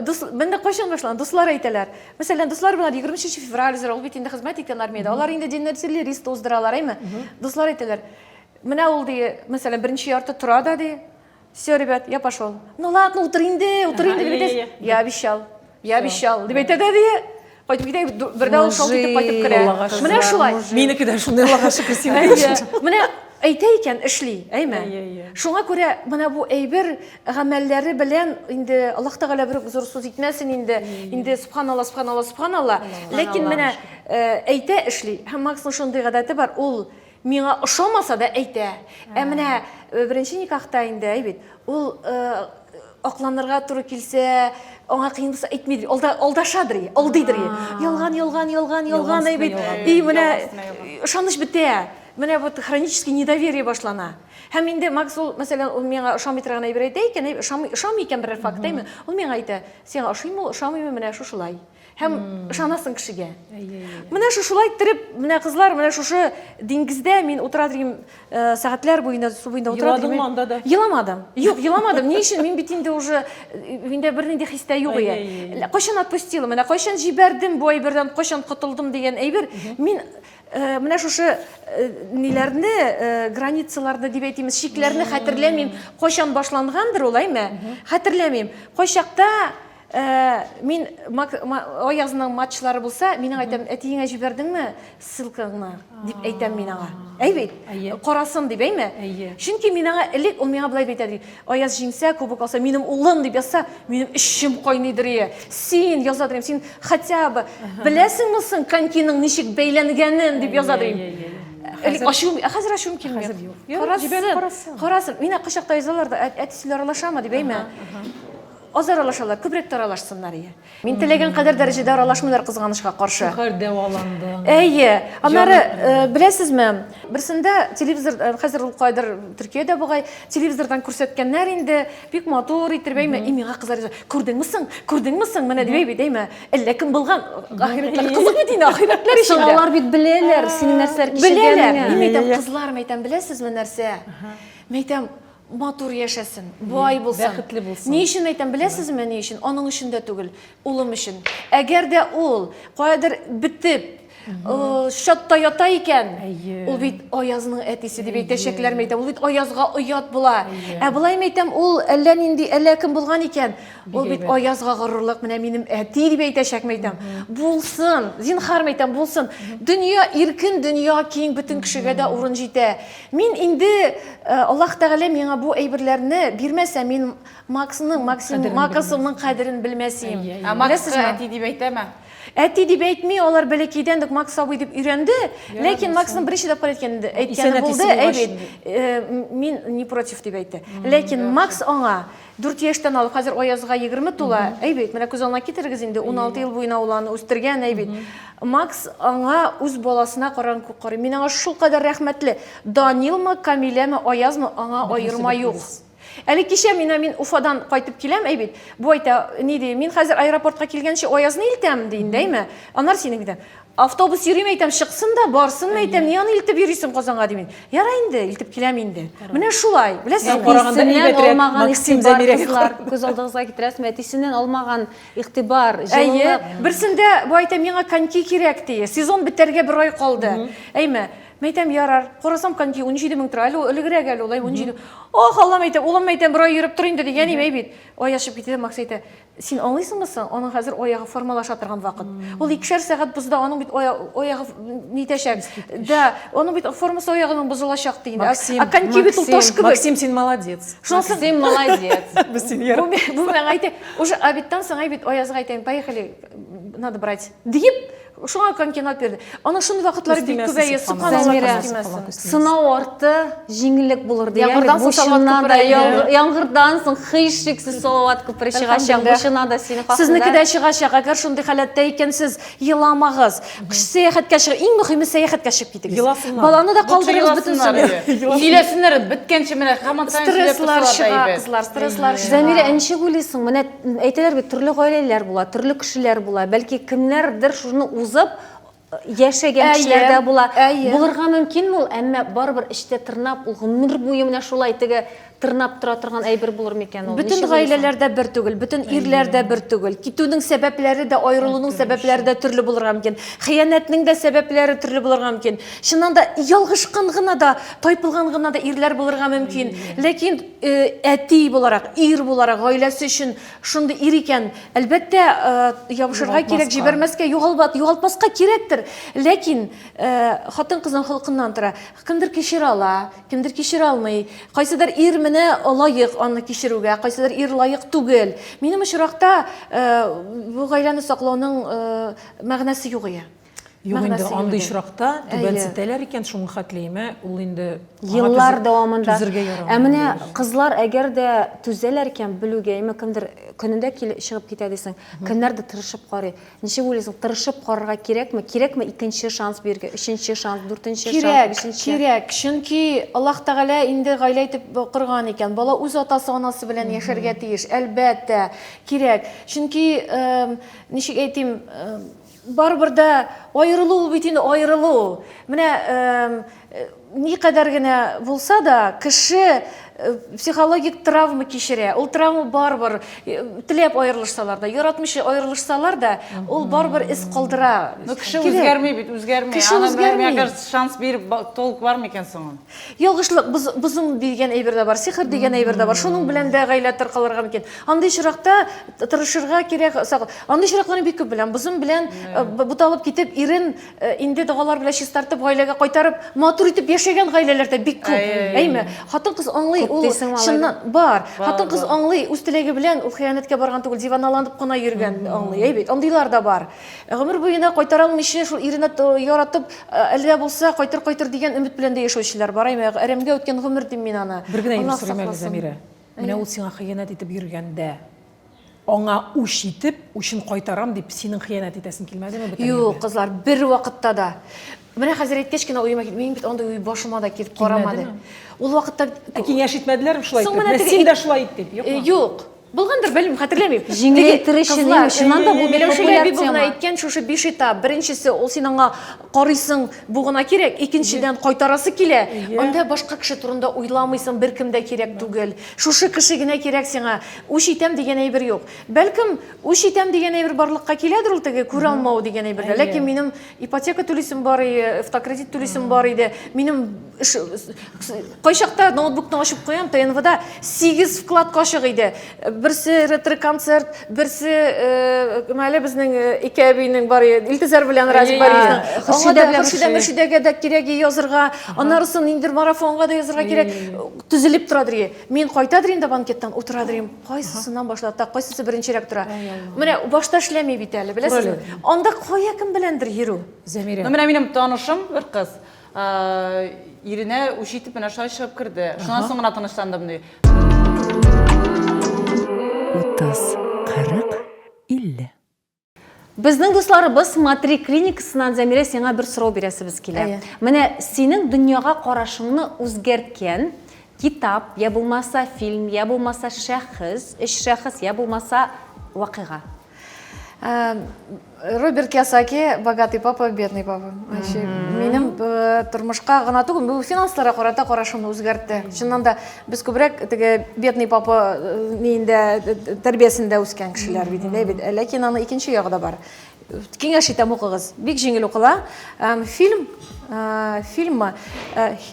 Дус, менә кайчан башланган? Дуслар әйтәләр. Мәсәлән, дуслар белән 23 февраль зур, ул бит инде хезмәт иткән армиядә. Алар инде диннәр сирли, рис туздыралар, әйме? Дуслар әйтәләр. Менә ул ди, мәсәлән, беренче ярты тора да ди. Все, ребят, я пошел. Ну ладно, утыр инде, утыр инде, дип әйтәсең. Я обещал, я обещал, дип әйтә дә дия. Кайтып китә, бердә ул шалт итеп кайтып керә. Аллага шөкер. Менә шулай. Минеке дә шундый Аллага шөкер син Әйе. дигәнчә. Менә әйтә икән, эшли, әйме? Әйе, әйе. Шуңа күрә менә бу әйбер гамәлләре белән инде Аллаһ Тәгалә бер үк зур сүз итмәсен инде. Инде субханалла, субханалла, субханалла. Ләкин менә э, әйтә, эшли. Һәм Максның шундый гадәте бар, ул Миңа ошамаса да әйтә. Ә менә беренче никахта инде, әй бит, ул акланырга туры килсә, аңа кыен булса әйтми, алда алдашадыр, алдыйдыр. Ялган, ялган, ялган, ялган әй бит. И менә ышаныч бетә. Менә вот хронический недоверие башлана. Һәм инде Макс ул, мәсәлән, ул миңа ошамый торган әйбер әйтә икән, ошамый икән берәр факт, әйме? Ул миңа әйтә, сиңа ошыймы ул, ошамыймы, менә шушылай. һәм ышанасың кешегә менә шушылай иттереп менә кызлар менә шушы диңгездә мин утыра торган э, сәгатьләр буена су буенда утыра еладыңмы анда да еламадым юк еламадым ни өчен мин бит инде уже э, миндә бернинди хис тә юк иде кайчан отпустила менә кайчан җибәрдем бу әйбердән кайчан котылдым дигән әйбер мин э, менә шушы ниләрне границаларны дип әйтимез чикләрне хәтерләмим кайчан башлангандыр ул әйме хәтерләмим кайчакта Ә, мин Аязның матчлары булса, мин аңа әйтәм, әтиеңә җибәрдеңме ссылкаңны? дип әйтәм мин аңа. Әй бит, карасын дип, әйме? Чөнки мин аңа элек ул миңа болай әйтә ди. Аяз җиңсә, кубок алса, минем улым дип язса, минем эчем кайныйдыр ие. Син яза дим, син хотя бы беләсеңме соң конькиның ничек бәйләнгәнен дип яза дим. Элек ачуым, ә хәзер ачуым килми. Хәзер юк. Карасын, карасын. Мина кочакта язалар да, әтисе аралашамы дип, әйме? Аз аралашалар, күбрәк тә аралашсыннар, ие. Мин теләгән кадәр дәрәҗәдә аралашмыйлар кызганычка каршы. Шәһәр дәваланды. Әйе. Аннары, э, беләсезме, берсендә телевизор, э, хәзер ул кайдыр Төркиядә бугай, телевизордан күрсәткәннәр инде, бик матур итеп әйме, и миңа кызлар яза, күрдеңме соң, күрдеңме соң, менә дип әйби, әйме, әллә кем булган, ахирәтләр кызык дин ахирәтләр өчен. Соң алар бит беләләр, синең нәрсәләр кичергәнеңне. Беләләр. Мин әйтәм, кызлар, мәйтәм, беләсезме нәрсә? Мәйтәм, матур яшәсен, бай булсын. Бәхетле булсын. Ни өчен әйтәм, беләсезме, ни өчен? Аның өчен дә түгел, улым өчен. Әгәр дә ул каядыр бетеп, чатта ята икән, ул бит Аязның әтисе дип әйтәчәкләр мәйтәм. Ул бит Аязга оят була. Ә болай мәйтәм, ул әллә нинди әллә кем булган икән, ул бит Аязга горурлык, менә минем әти дип әйтәчәк мәйтәм. Булсын, зинхар мәйтәм, булсын. Дөнья иркен, дөнья киң, бөтен кешегә дә урын җитә. Мин инде э, Аллаһ Тәгалә миңа бу әйберләрне бирмәсә, мин Максның, Максим, Кадерен Максымның кадерен белмәсем. Әйе, әйе. Ә Макс Беләсезме? әти дип әйтәме? Әти дип әйтми, алар бәләкәйдән үк Макс абый дип өйрәнде. Ләкин Максның беренче тапкыр әйткән исән әйткәне әтисе булды, булгач әйбит. инде. Э, м- Мин не против дип әйтте. Ләкин Макс аңа Дүрт яшьтән алып, хәзер Аязга егерме тула, әй бит, менә күз алдына китерегез инде, уналты ел буена ул аны үстергән, әй бит. Макс аңа үз баласына караган күк карый. Мин аңа шулкадәр рәхмәтле. Данилмы, Камиләме, Аязмы, аңа аерма юк. Әле кичә мина мин Уфадан кайтып киләм, әй бит, бу әйтә, ни ди, мин хәзер аэропортка килгәнче Аязны илтәм, ди инде, әйме, аннары синең, дидем. Автобус йөрим әйтәм, чыксын да, барсын әйтәм, ни аны илтеп йөрисең Казанга дим. Яра инде, илтеп киләм инде. Менә шулай. Беләсең, караганда әйбәтрәк. Максим Замирәгә. Күз алдыгызга китерәсезме? Әтисеннән алмаган игътибар, җылылык. Берсендә бу әйтә, миңа коньки кирәк ди. Сезон бетәргә бер ай калды. Әйме, Мен әйтәм, ярар, карасам коньки 17 мең тора, әле ул элегрәк әле ул, 17. Ох, Аллам әйтәм, улым әйтәм, бер ай йөреп тор инде ди, әни әй бит. Ай ачып китте, Макс әйтә, Син аңлыйсыңмы соң, аның хәзер аягы формалаша торган вакыт. Ул икешәр сәгать бозда, аның бит аягы нитәчәк. Да, аның бит формасы аягының бозылачак ди инде. Максим, а коньки бит ул таш кебек. Максим, син молодец. Шунысы син молодец. Без син яр. Бу миңа әйтә, уже обедтан соң әй бит Аязга әйтәм, поехали, надо брать. Диеп, Шуңа конкинат бирде. Аны шундый вакытлары бик Күстимәсе күбәя сыпкан сыпкан алар. Зәмирә. Күстимәсен. Сынау арты, җиңеллек булыр дигән. Яңгырдан Бу соң салават чыннан да күпере. яң- яңгырдан соң һичшиксез салават күпере чыгачак. Бу Әлхәмдүлилләһ. чыннан да синең хакында. Сезнеке дә чыгачак. Әгәр шундый халәттә икәнсез, еламагыз. Кыш сәяхәткә чыгып, иң мөһиме сәяхәткә чыгып китегез. Еласыннар. Баланы да Лучше калдырыгыз бөтен еласыннар, сабый. әйе. Еласыннар. Сөйләсеннәр, беткәнче менә һаман саен сөйләп Стресслар торсалар да чыга, әйбәт. кызлар, стресслар чыга. Зәмирә, ә ничек уйлыйсың, менә Әйтәләр бит, төрле гаиләләр була, төрле кешеләр була. Бәлки кемнәрдер шуны узып яшәгән кешеләр дә була. Булырга мөмкин ул, әмма барыбер эчтә тырнап, ул гомер буе менә шулай теге тырнап тора торган әйбер булыр микән ул? Бөтен гаиләләр дә бер түгел, бөтен ирләр дә бер түгел. Китүнең сәбәпләре дә, аерылуның сәбәпләре дә төрле булырга мөмкин. Хыянәтнең дә сәбәпләре төрле булырга мөмкин. Чыннан да ялгышкан гына да, тайпылган гына да ирләр булырга мөмкин. Ләкин әти буларак, ир буларак, гаиләсе өчен шундый ир икән, әлбәттә, ябышырга кирәк, җибәрмәскә, югалбат, югалтмаска кирәктер. Ләкин хатын-кызның холкыннан тора. Кемдер кичерә ала, кемдер кичерә алмый. Кайсыдыр ир менә лаек аны кичерүгә, кайсыдыр ир лаек түгел. Минем очракта бу гаиләне саклауның мәгънәсе юк ия. Юк инде, андый очракта түбәнсетәләр икән, шуңа хәтлиемә, ул инде еллар дәвамында түзергә ярамый. Ә менә кызлар әгәр дә түзәләр икән, белүгә, әмма кемдер көнендә килеп чыгып китә дисең, кемнәр дә тырышып карый. Ничек уйлыйсың, тырышып карарга кирәкме? Кирәкме икенче шанс бирергә, өченче шанс, дүртенче шанс, кирәк, бишенче? Кирәк, чөнки Аллаһ Тәгалә инде гаилә итеп корган икән. Бала үз атасы, анасы белән яшәргә тиеш. Әлбәттә, кирәк. Чөнки, ничек әйтим, Барыбер дә аерылу ул бит инде аерылу. Менә никадәр генә булса да, кеше психологик травма кичерә. Ул травма барыбер теләп аерылышсалар да, яратмыйча аерылышсалар да, ул барыбер эз калдыра. Ну кеше үзгәрми бит, үзгәрми. Кеше үзгәрми. Аны, мне кажется, шанс биреп толк бар микән соң? Ялгышлык, боз, бозым дигән әйбер дә бар, сихер дигән әйбер дә бар. Шуның белән дә гаилә таркалырга мөмкин. Андый очракта тырышырга кирәк. Андый очракларны бик күп беләм. Бозым белән э, буталып китеп, ирен э, инде догалар белән чистартып, гаиләгә кайтарып, матур итеп яшәгән гаиләләр дә бик күп. Әйме? Хатын-кыз аңлый, ул чыннан бар. Хатын-кыз аңлый, үз теләге белән ул хыянәткә барган түгел, диваналанып кына йөргән аңлый. Әйбит, андыйлар да бар. Гомер буена кайтара алмыйча, шул иренә яратып, әле дә булса кайтыр кайтыр дигән өмет белән дә яшәүчеләр бар, әйме, әрәмгә үткән гомер дим мин аны. Бер генә ир сорыйм әле, Зәмирә. Менә ул сиңа хыянәт итеп йөргәндә, аңа үч итеп, үчен кайтарам дип, синең хыянәт итәсең килмәдеме бүтән иргә? Юк, кызлар, бервакытта да. Менә хәзер әйткәч кенә уема кит, минем бит андый уй башыма да килеп карамады. Ул вакытта Ә киңәш итмәделәрме шулай итеп? Менә син дә шулай ит дип, юкмы? Юк. Булгандыр, белмим, хәтерләмим. Җиңеләйтер өчен, чыннан да бу бик популяр тема. Әйткән шушы биш этап. Беренчесе, ул син аңа карыйсың, бу гына кирәк. Икенчедән, кайтарасы килә. Анда башка кеше турында уйламыйсың, беркем дә кирәк түгел. Шушы кеше генә кирәк сиңа. Үч итәм дигән әйбер юк. Бәлкем, үч итәм дигән әйбер барлыкка киләдер ул теге күралмау дигән әйбердә. Ләкин минем ипотека түлисем бар иде автокредит түлисем бар иде минем эш кайчакта ноутбукны ачып куям тнвда сигез вклад ачык иде берсе ретро концерт берсе э, мәле безнең э, ике әбинең бар иде илтизар белән разиб хөршидә мөршидәгә дә кирәк язырга аннарысын инде марафонга да язырга кирәк төзелеп торадыр мин кайтадыр инде банкеттан утырадыр Кайсысыннан башлата, кайсысы беренчерәк тора. Менә башта эшләми бит әле, беләсезме? Анда кая кем беләндер йөрү? Зәмирә. Ну, менә минем танышым бер кыз. Иренә үч итеп менә шулай чыгып керде. Шуннан соң гына тынычландым ди. 30, 40, 50. Безнең дусларыбыз Матри клиникасыннан Зәмирә сиңа бер сорау бирәсебез килә. Әйе. Менә синең дөньяга карашыңны үзгәрткән китап, я булмаса фильм, я булмаса шәхес, өч шәхес, я булмаса вакыйга. Э, Роберт Киосаки «Богатый папа, бедный папа». Вообще, Минем э, тормышка гына түгел, бу финансларга карата карашымны үзгәртте. Чыннан да, Без күбрәк теге бедный папа э, ниендә э, тәрбиясендә үскән кешеләр бит инде бит. Э, ләкин аны икенче ягы да бар. Киңәш итәм укыгыз. Бик җиңел укыла. Фильм фильмы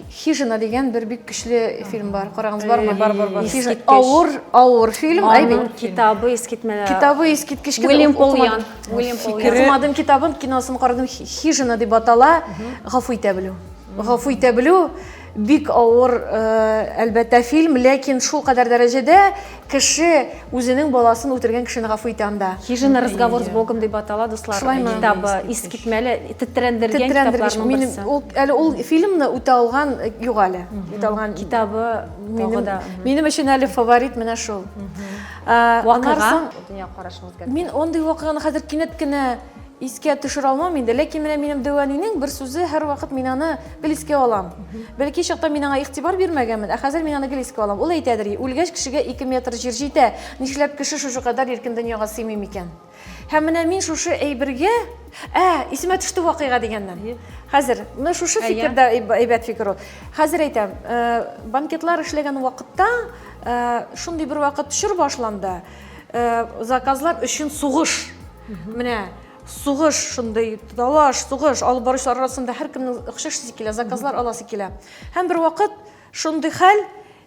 Хижина дигән бер бик көчле фильм бар. Карагыз бармы? Бар, бар, бар. Хижина авыр, авыр фильм. Аның китабы искитмәле. Китабы искиткеч китап. Уильям Польян. Уильям Польян. Китабын, китабын киносын карадым. Хижина дип атала. Гафу итә белү. Гафу итә белү. Бик авыр, әлбәттә, фильм, ләкин шулкадәр дәрәҗәдә кеше үзенең баласын үтергән кешене гафу итә анда. Хижина разговор с Богом дип атала, дуслар, китабы, искитмәле, тетрәндергән китапларның берсе. Әле ул фильмны үтә алган юк әле. Үтә алган китабы тагы да. Минем өчен әле фаворит менә шул. Вакыйга. Мин андый вакыйганы хәзер кинәт кенә Искә төшерә алмам инде, ләкин менә минем дәү әнинең бер сүзе һәрвакыт мин аны гел искә алам. Бәлки чакта мин аңа игътибар бирмәгәнмен, ә хәзер мин аны гел искә алам. Ул әйтәдер, үлгәч кешегә ике метр җир җитә, нишләп кеше шушы кадәр иркен дөньяга сыймый микән? Һәм менә мин шушы әйбергә, ә, исемә төште вакыйга дигәннән. Хәзер, менә шушы фикер дә әйбәт фикер ул. Хәзер әйтәм, э, банкетлар эшләгән вакытта, э, шундый бер вакыт чор башланды, Заказлар өчен сугыш. Менә сугыш шундый талаш, сугыш алып баручылар арасында һәркемнең охшашысы килә, заказлар аласы килә. Һәм бер вакыт шундый хәл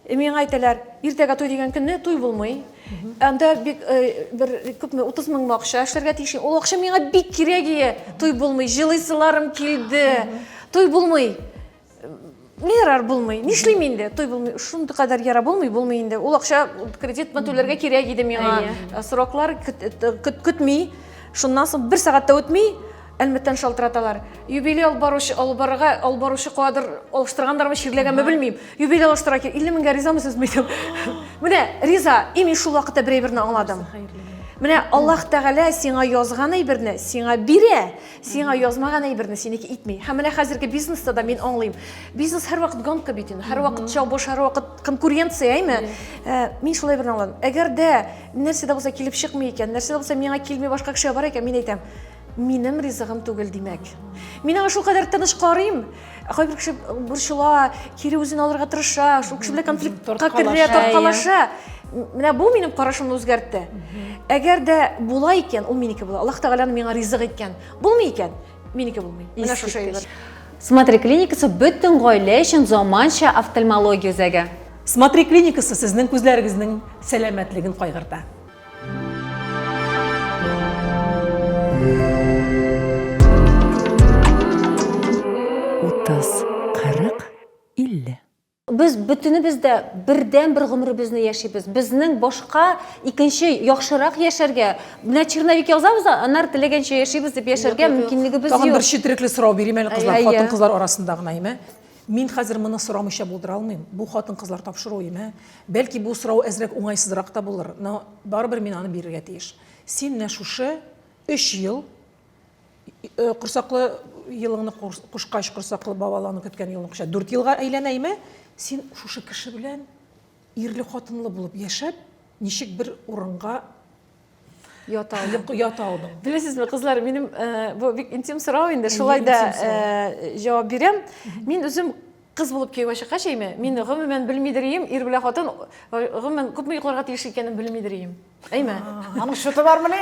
миңа әйтәләр, иртәгә туй дигән көнне туй булмый. Анда бик бер күпме 30 мең акча эшләргә тиеш. Ул акча миңа бик кирәк ие. Туй булмый, җылыйсыларым килде. Туй булмый. не ярар булмый нишлим инде той булмый шундый кадәр яра булмый булмый инде ул акча кредит түләргә кирәк иде миңа э, сроклар көтми шуннан соң бер сәгать тә үтми әлмәттән шалтыраталар юбилей алып баручы алып барырга алып баручы кадр алыштыргандармы чирләгәнме белмим юбилей алыштыра кирәк илле меңгә ризамы сез мидем менә риза и мин шул вакытта бер әйберне аңладым менә аллаһ тәгалә сиңа язган әйберне сиңа бирә Сиңа язмаган әйберне синеке итми. Һәм менә хәзерге бизнеста да мин аңлыйм. Бизнес һәрвакыт гонка бит инде. Һәрвакыт чабыш, һәрвакыт конкуренция, әйме? Э, мин шулай берне аңладым. Әгәр дә нәрсә дә булса килеп чыкмый икән, нәрсә дә булса миңа килми башка кешегә бар икән, мин әйтәм, минем ризыгым түгел, димәк. Мин аңа шулкадәр тыныч карыйм, кайбер кеше борчыла кире үзен алырга тырыша шул кеше белән конфликтка керә тарткалаша менә бу минем карашымны үзгәртте әгәр дә була икән ул минеке була аллаһ тәгаләнең миңа ризык иткән булмый икән минеке булмый менә шушы әйбер смотри клиникасы бөтен гаилә өчен заманча офтальмология үзәге смотри клиникасы сезнең күзләрегезнең сәламәтлеген кайгырта Без бөтенебез дә бердән бер гомеребезне яшибез. Безнең башка икенче яхшырак яшәргә, менә черновик язабыз, аннары теләгәнчә яшибез дип яшәргә мөмкинлегебез юк. Тагын бер четерекле сорау бирим әле кызлар, хатын-кызлар арасында гына, әйме? Мин хәзер моны сорамыйча булдыра алмыйм, бу хатын-кызлар тапшыру өеме. Бәлки бу сорау әзрәк уңайсызрак та булыр, но барыбер мин аны бирергә тиеш. Син менә шушы өч ел, корсаклы елыңны кушкач, корсаклы бавалауны көткән елны кушкач, дүрт елга әйләнә име, син шушы кеше белән ирле-хатынлы булып яшәп, ничек бер урынга ята алдым ята алдым белесезме кызлар минем э, бу бик интим сорау инде шулай да э, җавап бирәм мин үзем кыз булып кияүгә чыккач әйме мин гомумән белмидер идем ир белән хатын э, гомумән күпме йокларга тиеш икәнен белмидер идем әйме аның счеты бармыни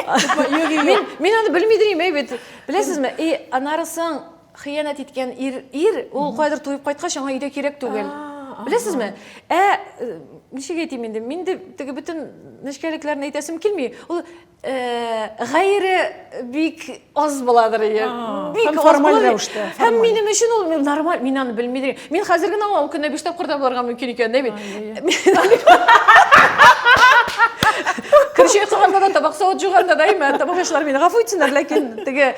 мин мин аны белмидер идем әй бит беләсезме и анарысын Хыянәт иткән ир, ир, ул кайдыр туеп кайткач, аңа өйдә кирәк түгел. Беләсезме? Ә э, ничек әйтим инде? Мин дә теге бөтен нечкәлекләрне әйтәсем килми. Ул э, гайре бик аз буладыр ия. Бик һәм аз формаль була. рәвештә, Һәм формаль. минем өчен ул мин нормаль, мин аны белмидем. Мин хәзер генә аңа ул көнне биш тапкыр да булырга мөмкин икән, дә бит. Кирче кылганда да табак савыт жуганда да имә, табак яшьләр мине гафу итсеннәр, ләкин теге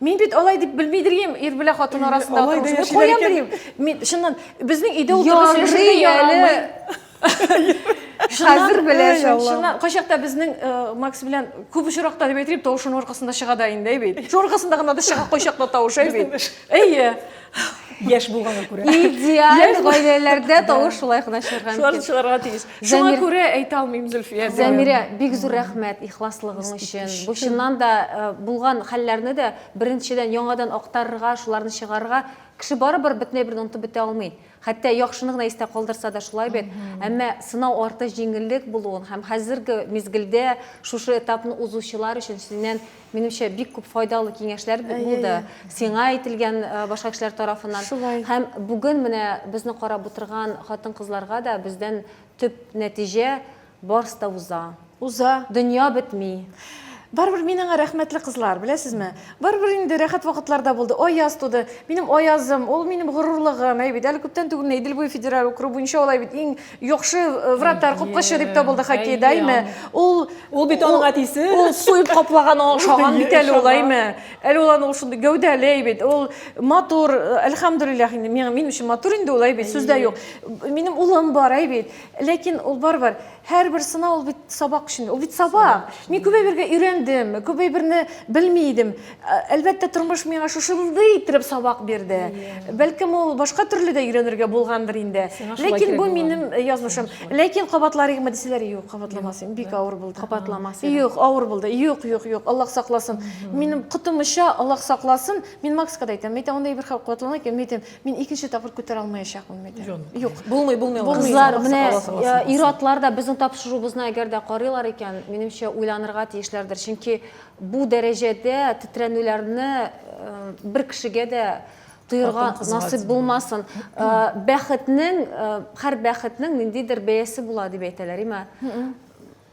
Мин бит алай дип белми дирим, ир белән хатын арасында алай да яшиләр икән. Дирим. Мин чыннан безнең өйдә утырган яши ярамый. Хәзер беләсең, чыннан. Кайчакта безнең э, Макс белән күп очракта дип әйтим, тавышының аркасында чыга да инде бит. Шул аркасында гына да чыга кайчакта тавыш, әй бит. Әйе. Яш булгана күрә. Идеаль гаиләләрдә тавыш шулай гына чыгарга мөмкин. Шулар чыгарга тиеш. Шуңа күрә әйтә алмыйм, Зөлфия. Зәмирә, бик зур рәхмәт ихласлыгың өчен. Бу чыннан да э, булган хәлләрне дә беренчедән яңадан актарырга, шуларны чыгарырга кеше барыбер бөтенләй берне онытып бетә алмый. Хәтта яхшыны гына истә калдырса да шулай бит. Әмма сынау арты җиңеллек булуын һәм хәзерге мизгелдә шушы этапны узучылар өчен синнән, минемчә, бик күп файдалы киңәшләр булды. Сиңа әйтелгән башка кешеләр тарафыннан. Шулай. Һәм бүген менә безне карап утырган хатын-кызларга да бездән төп нәтиҗә, Барс та уза. Уза. Дөнья бетми. Барыбер мин аңа рәхмәтле, кызлар, беләсезме? Барыбер инде рәхәт вакытлар да булды. Аяз туды. Минем Аязым, ул минем горурлыгым. Әй бит, әле күптән түгел генә Идел буе федераль округы буенча ул, әй бит, иң яхшы э, вратарь, капкачы дип табылды хоккейда, әйме? Ул Ул бит аның әтисе. Ул суеп каплаган ашаган бит әле ул, әйме? Әле ул аны ул шундый гәүдәле, әй бит. Ул матур, э, әлхәмдүлилләх инде. Миңа мин өчен матур инде ул, әй бит, сүз дә юк. Минем улым бар, әй бит. Ләкин ул барыбер, һәрбер сынау ул бит сабак өчен. Ул бит сабак. Мин күп әйбергә өйрәндем, күп әйберне белми идем. Ә, Әлбәттә, тормыш миңа шушындый иттереп сабак бирде. Бәлкем, ул башка төрле дә өйрәнергә булгандыр инде. Сиңа шулай Ләкин кирәк бу булган. минем э, язмышым. Ләкин кабатларыгмы дисәләр, юк, кабатламасын. Бик авыр булды. Кабатламасын. Юк, авыр булды. Юк, юк, юк, Аллаһ сакласын. Минем котымыча Аллаһ сакласын. Мин Макска да әйтәм, мәйтәм, андый бер хәл кабатлана икән, мәйтәм, Мин икенче тапкыр күтәрә алмаячакмын бит. Юк. Булмый, булмый. Кызлар, менә ир-атлар да безнең тапшыруыбызны әгәр дә карыйлар икән, минемчә, уйланырга тиешләрдер. Чөнки бу дәрәҗәдә тетрәнүләрне бер кешегә дә тоерга насыйп булмасын. Бәхетнең, һәр бәхетнең ниндидер бәясе була дип әйтәләр, име?